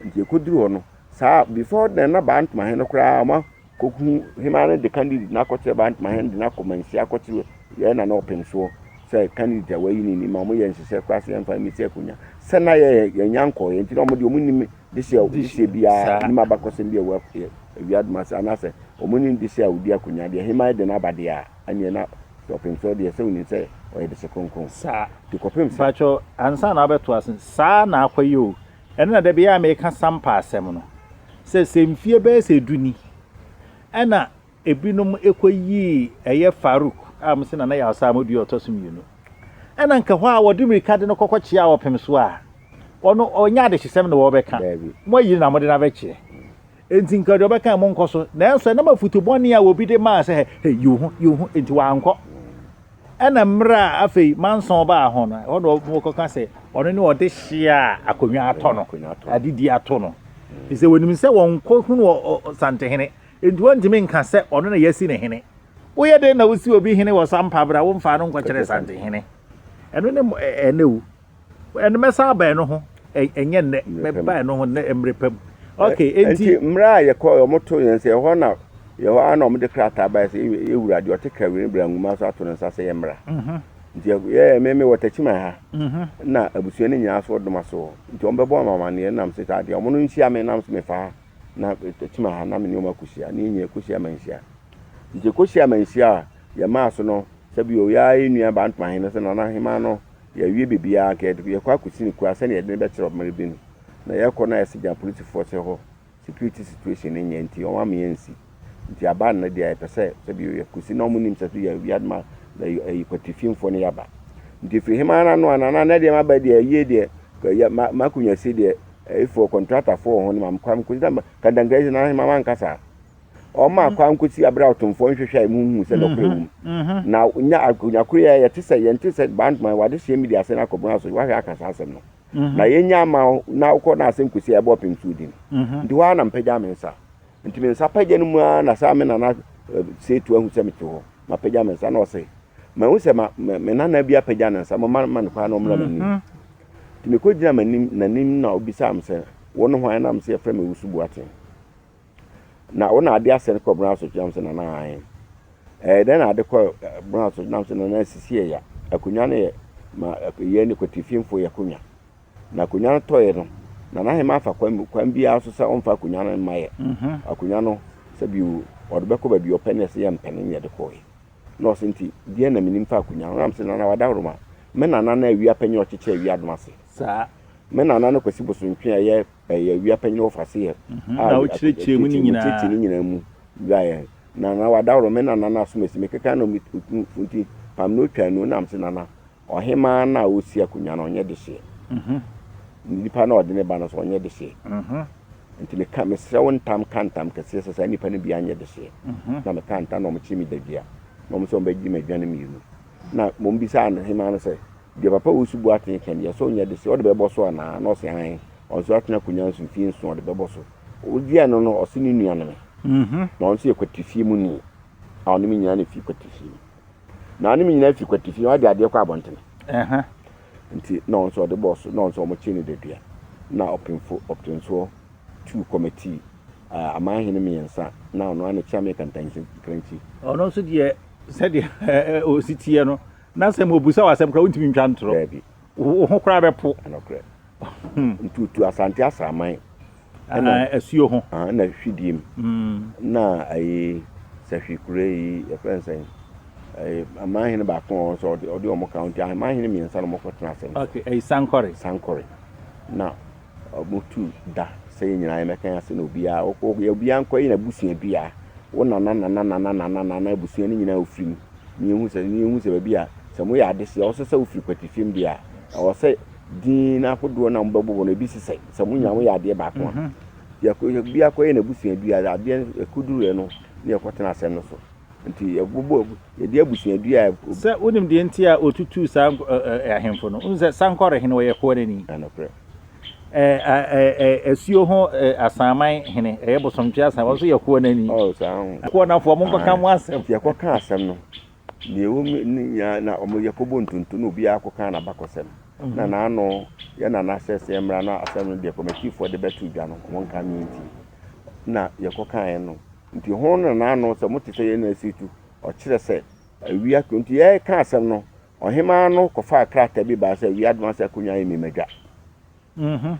Speaker 2: nti yɛkɔduru hɔ no saa before na na baa ntoma he no koraa ɔma Koku hemaa no de candidate no akɔkyerɛ Bantama hene de no akɔ Manhyia akɔkyerɛ yɛn nana ɔpem soɔ sɛ candidate a wayi no ni ma wɔyɛ nhyehyɛ koraa sɛ yɛmfa mmɛsi akonya sɛ na yɛ yɛnya nkɔɔyɛ nti na wɔn deɛ wɔn nim dehyɛ dehyɛ biara nim abakɔsɛm bi a ɛwɔ awia doma sɛ anaasɛ wɔn nim dehyɛ a wɔdi akonya deɛ hemaa de no aba deɛ a ɛneɛ na sɛ ɔpem soɔ deɛ sɛ wɔnim sɛ ɔyɛ dehyɛ kronkron saa nti kɔpem sɛ.
Speaker 1: Mpakyɛw
Speaker 2: ansa na abɛto
Speaker 1: ase saa na akɔyɛ o. Ɛno na da biara a meka Sampa asɛm no, sɛ sɛ mfie bɛyɛ sɛ du ni, ɛna ebinom kɔyii ɛyɛ Farouk a wɔse Nana Yawsaa Amodu yɛ ɔtɔ so mmienu, ɛna anka hɔ a wɔde mmirika de no kɔkɔkyeaa ɔpem so a, ɔno ɔnyɛ adehyesɛm na wɔrebɛka, moayi no na mode no abɛkyeɛ. Enti anka deɛ ɔbɛka monkɔ so, nanso ɛnam afutu bɔne a obi de maa sɛ, hɛ, hɛ, yi wo ho, yi wo ho, enti wankɔ. Ɛna mmerɛ a afei Manson baa hɔ no, ɛhɔ na wɔkɔka sɛ ɔno ne ɔdehyeɛ a akonnwa atɔ no, adedie ato no. Ɛfiri sɛ wɔnim sɛ wɔnkɔhunu ɔsantehene, enti wɔntumi nka sɛ ɔno na yɛasi no hene. Woyɛ dɛn na wosi obi hene wɔ sampa berɛ a womfaa no nkɔkyerɛɛ santehene? Ɛno ne ɛnɛ o. Ɛno mɛsan aba ɛno ho, ɛnyɛ nnɛ, mɛba ɛno ho nnɛ mmere pa mu. Okay, enti. Enti mmerɛ a yɛkɔ yɛ, wɔto
Speaker 2: yɛn sɛ ɛhɔ na yɛhɔ ara na wɔde krataa baeɛ sɛ yɛ wura deɛ ɔte Kawere no bra nwuma so ato ne nsa sɛ yɛmmra. Mhm. Nti yɛɛ me me wɔ Takyiman ha mhm. na abusua no nyinaa so ɔdoma so nti wɔbɛbɔ wɔn amanneɛ nam sɛ saa deɛ wɔn no nhyia me nam sɛ mefa ha na Takyiman ha na me ne wɔn akɔhyia ne nyɛ kɔhyia ma nhyia nti kɔhyia ma nhyia a yɛmaa so no sɛ bi o yɛa yɛ nua baa ntomahe no sɛ nana hema no Yɛawie biribiara anka yɛde yɛkɔ akɔsi no kura sɛdeɛ yɛde no bɛkyerɛ ɔmere bi no na yɛkɔ no a ɛsɛ gya polisifoɔ sɛ hɔ security situation no nyɛ nti wɔn ama yɛnsi nti aba nnɛ deɛ yɛpɛ sɛ sɛ bio yɛkɔsi na wɔn nim sɛ so yɛ awia no ma ɛyi kwatifimfoɔ no yɛaba nti firi hema no ano ana na deɛ maba deɛ ayie deɛ yɛ ma makɔnya si deɛ ɛyifoɔ kɔntratafoɔ wɔ ho no ma mekɔ mekɔsi na kandankra yi na hema ma nkasa Ɔma akwan kosi abere a ɔtomfoɔ nhwehwɛ a emu nhu sɛ nɔkorɛ wom. Na nya akonyakorɔ yi a ɛyɛ te sɛ yɛn te sɛ Bandman wɔ adesua mu de asɛn akɔ bɔn aso yi wahwɛ aka saa asɛm no. Na yɛn nya ama wo na wokɔ na asɛn kosi a ɛbɔ ɔpem so odi no. Nti hɔ ara na mpagya me nsa. Nti me nsa pagya no mu ara na saa me nana Seetu ahu sɛ mete hɔ. Mapagya me nsa na ɔse mahu sɛ ma me nana bi apagya ne nsa momma mma no kwan na ɔmmra m'anim. Nti mekɔ gyina m'anim n'anim na ɔbisaa me sɛ wone hwan na mese yɛfrɛ me Owusu Boateng. Na wo na ade asɛ no kɔ Brown so gyinam sɛ nana ahan. Ɛɛ dɛn na ade kɔ Brown so gyinam sɛ nana asisi yɛ ya. Akonnwa no yɛ ma yɛ ne kwatifinfo yɛ konwa. Na akonnwa no tɔɛ no, nana ahema afa kwan kwan biara so sɛ ɔmfa akonnwa no mma yɛ. Akonnwa no sɛ bi ɔde bɛkɔ baabi ɔpɛ ne ɛsɛ yɛ mpɛ no ne yɛde kɔɛ. Na ɔsɛ nti deɛ na menim fa akonnwa no. Nam sɛ nana wada horo ma me nana no awia pɛ nyɛ ɔkyekyɛ awia dom ase saa. Me
Speaker 1: nana no
Speaker 2: kwasi bosontwe a ɛyɛ. ɛyɛ wia panyin wɔ Fasihe a na ɔkyerɛkyerɛ
Speaker 1: mu no nyinaa ne nyinaa mu
Speaker 2: wuraeɛ na na wadaworo me nana no asomasi me keka na ɔtu funti pam na ɔtwa anu nam se nana ɔhemaa no a ɔsi akonnwa no ɔnyɛ dehyeɛ nipa no a ɔde ne ba no so ɔnyɛ dehyeɛ nti meka mesrɛ wo ntam ka ntam kɛseɛ sɛ saa nipa no bi anyɛ dehyeɛ na meka ntam na ɔmokye me dadua na ɔmo sɛ ɔmbɛgye me adwane mmienu na mom bisaa no hemaa no sɛ Deɛ Papa Owusu Boateng ka nie, sɛ ɔnya dese, ɔde bɛbɔ so anaa? Na ɔse hann. Ɔno nso atena akonwa nso mfie nson, ɔde bɛbɔ so. Woduaa no no, ɔse ne nua ne me. Na ɔno nso yɛ kwatifie mu ni a ɔne me nyinaa na ɛfiri kwatifie mu. Na ɔne me nyinaa firi kwatifie mu, ɔde adeɛ kɔ abɔntene. Nti na ɔno nso ɔde bɔɔ so, na ɔno nso wɔkyee no dadua. Na ɔpemfo ɔptensoɔ tuu kɔmɛtii aman hene mmiɛnsa, na ɔno ara na ɛkyea me kantankrankyi. Ɔno nso deɛ
Speaker 1: sɛdeɛ ɔsi teɛ no. Na sɛ wɔbisa wo asɛm koraa wontumi ntwa ntorɔ. Daabi. Wo ho koraa bɛpo. Nokorɛ.
Speaker 2: Nti wotu Asante asraman. Ɛna
Speaker 1: asuo ho. Ɛna Hwideɛ mu.
Speaker 2: Ɛna ayi Sahwikure yi yɛfrɛ no sɛn? Ayi amanhene baako a wɔn nso ɔde wɔn ka ho nti amanhene mmiɛnsa na wɔkɔtena asɛm so. Okay, ayi Sankore.
Speaker 1: Sankore. Na Wɔtu da sɛ yɛn nyinaa yɛmmɛka yɛn ase na obiara wɔkɔ wɔkɔ obiara nkɔ yɛn abusuadua wo nana nana nana nana nana abusua no nyinaa ofiri mu ne yɛhu sɛ ne yɛhu sɛ baabi a sɛ moyɛ adehyɛ a wɔsɛ sɛ wofiri kwati fam deɛ a ɛwɔ sɛ din ahodoɔ na mobɛbobɔ no ebi sesɛ sɛ mo nyinaa moyɛ adeɛ baako a yɛkɔ obiara kɔ yɛn abusuadua adeɛ ɛkɔduruɛ no ne yɛkɔtena asɛm no so. Nti yɛbobɔ, yɛde abusua dua a. Sɛ wonim deɛ nti a wɔtutuu saa ahemfo no. Wonim sɛ Sankore hene ɔyɛ koa no ni. Nokorɛ. Asuo ho Asanman hene, ɛyɛ Bosomtwe Asan, ɔno nso yɛ koa no ani. Oh saa ho. Koa no afoɔ, monkɔka mo asɛm. Nti yɛkɔkaa asɛm no,
Speaker 2: deɛ ɛwɔ mu ne nyinaa na wɔn yɛkɔbɔ ntonto na obiara kɔkaa n'abakɔsɛm. Na n'ano yɛ nana sɛ sɛ yɛmmra na asɛm no deɛ kɔmɛtifoɔ de bɛto dwa no wɔnka me nti na yɛkɔkaeɛ no. Nti hon na n'ano sɛ mote sɛ yɛn na asi tu, ɔkyerɛ sɛ, awia to. Nti yɛreka asɛm no, ɔhemmaa no kɔfaa krataa bi baa sɛ awia doma sɛ akonnwa yɛ mmimadwa. Mmhmm.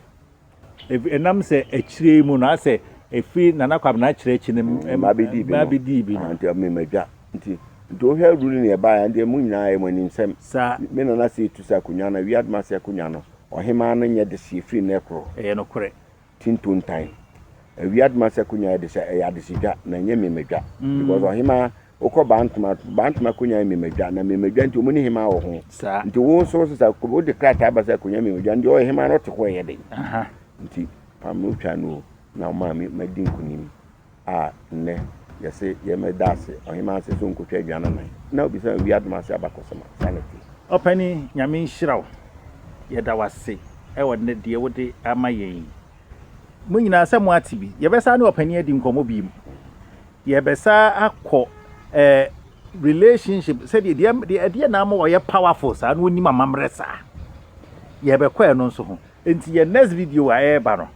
Speaker 1: Ɛnam sɛ akyire yi mu no, asɛ ɛfiri Nana Kwabena akyire akyi no mmaa bɛdii bi no. Mmaa bɛdii bi no. Aha, nti ɛyɛ mmimadwa.
Speaker 2: Nti, nti wohwɛ rule no yɛbaeɛ a, ɛndeɛ mo nyinaa ɛyɛ mo ani nsɛm. Saa. Me nana asi
Speaker 1: tu sɛ
Speaker 2: akonnwa no, awia doma sɛ akonnwa no, ɔhemmaa no nyɛ dehyeɛ firi nnɛ koro. Ɛyɛ nokorɛ.
Speaker 1: ti ntontan.
Speaker 2: Awiadoma sɛ konyaa de sɛ ɛyɛ adesedwa na ɛnyɛ mmemadwa because ɔhemaa wokɔ bantoma bantoma konyaa mmemadwa na mmemadwa nti wɔn ne hemaa wɔ ho nti wo nso sɛ
Speaker 1: sɛ
Speaker 2: wode krataa ba sɛ konyaa mmemadwa nti ɔyɛ hemaa no ɔte hɔ ɛyɛ den nti pam no twa no na ɔmaa me madi nkunim. a nnɛ yɛse yɛn mma da ase ɔhemaa se so nkotwa aduan anan na obisa no wiadom ase abakɔsɛm a, saa na ɛte. Ɔpani Nyame
Speaker 1: nhyira wo, yɛda wo ase wɔ nnɛ deɛ wode ama yɛn yi. Mo nyinaa sɛ mo ate bi, yɛbɛsan ne ɔpani adi nkɔmmɔ biom. Yɛbɛsan akɔ eh, relationship sɛdeɛ deɛ ɛdeɛ na ama ɔyɛ powerful saa na ɔnim amammerɛ saa. Yɛbɛkɔ ɛno nso ho. Enti yɛn next video a ɛreba no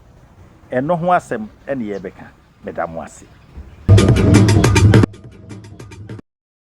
Speaker 1: ɛno ho asɛm ne yɛrebɛka. Meda mo ase.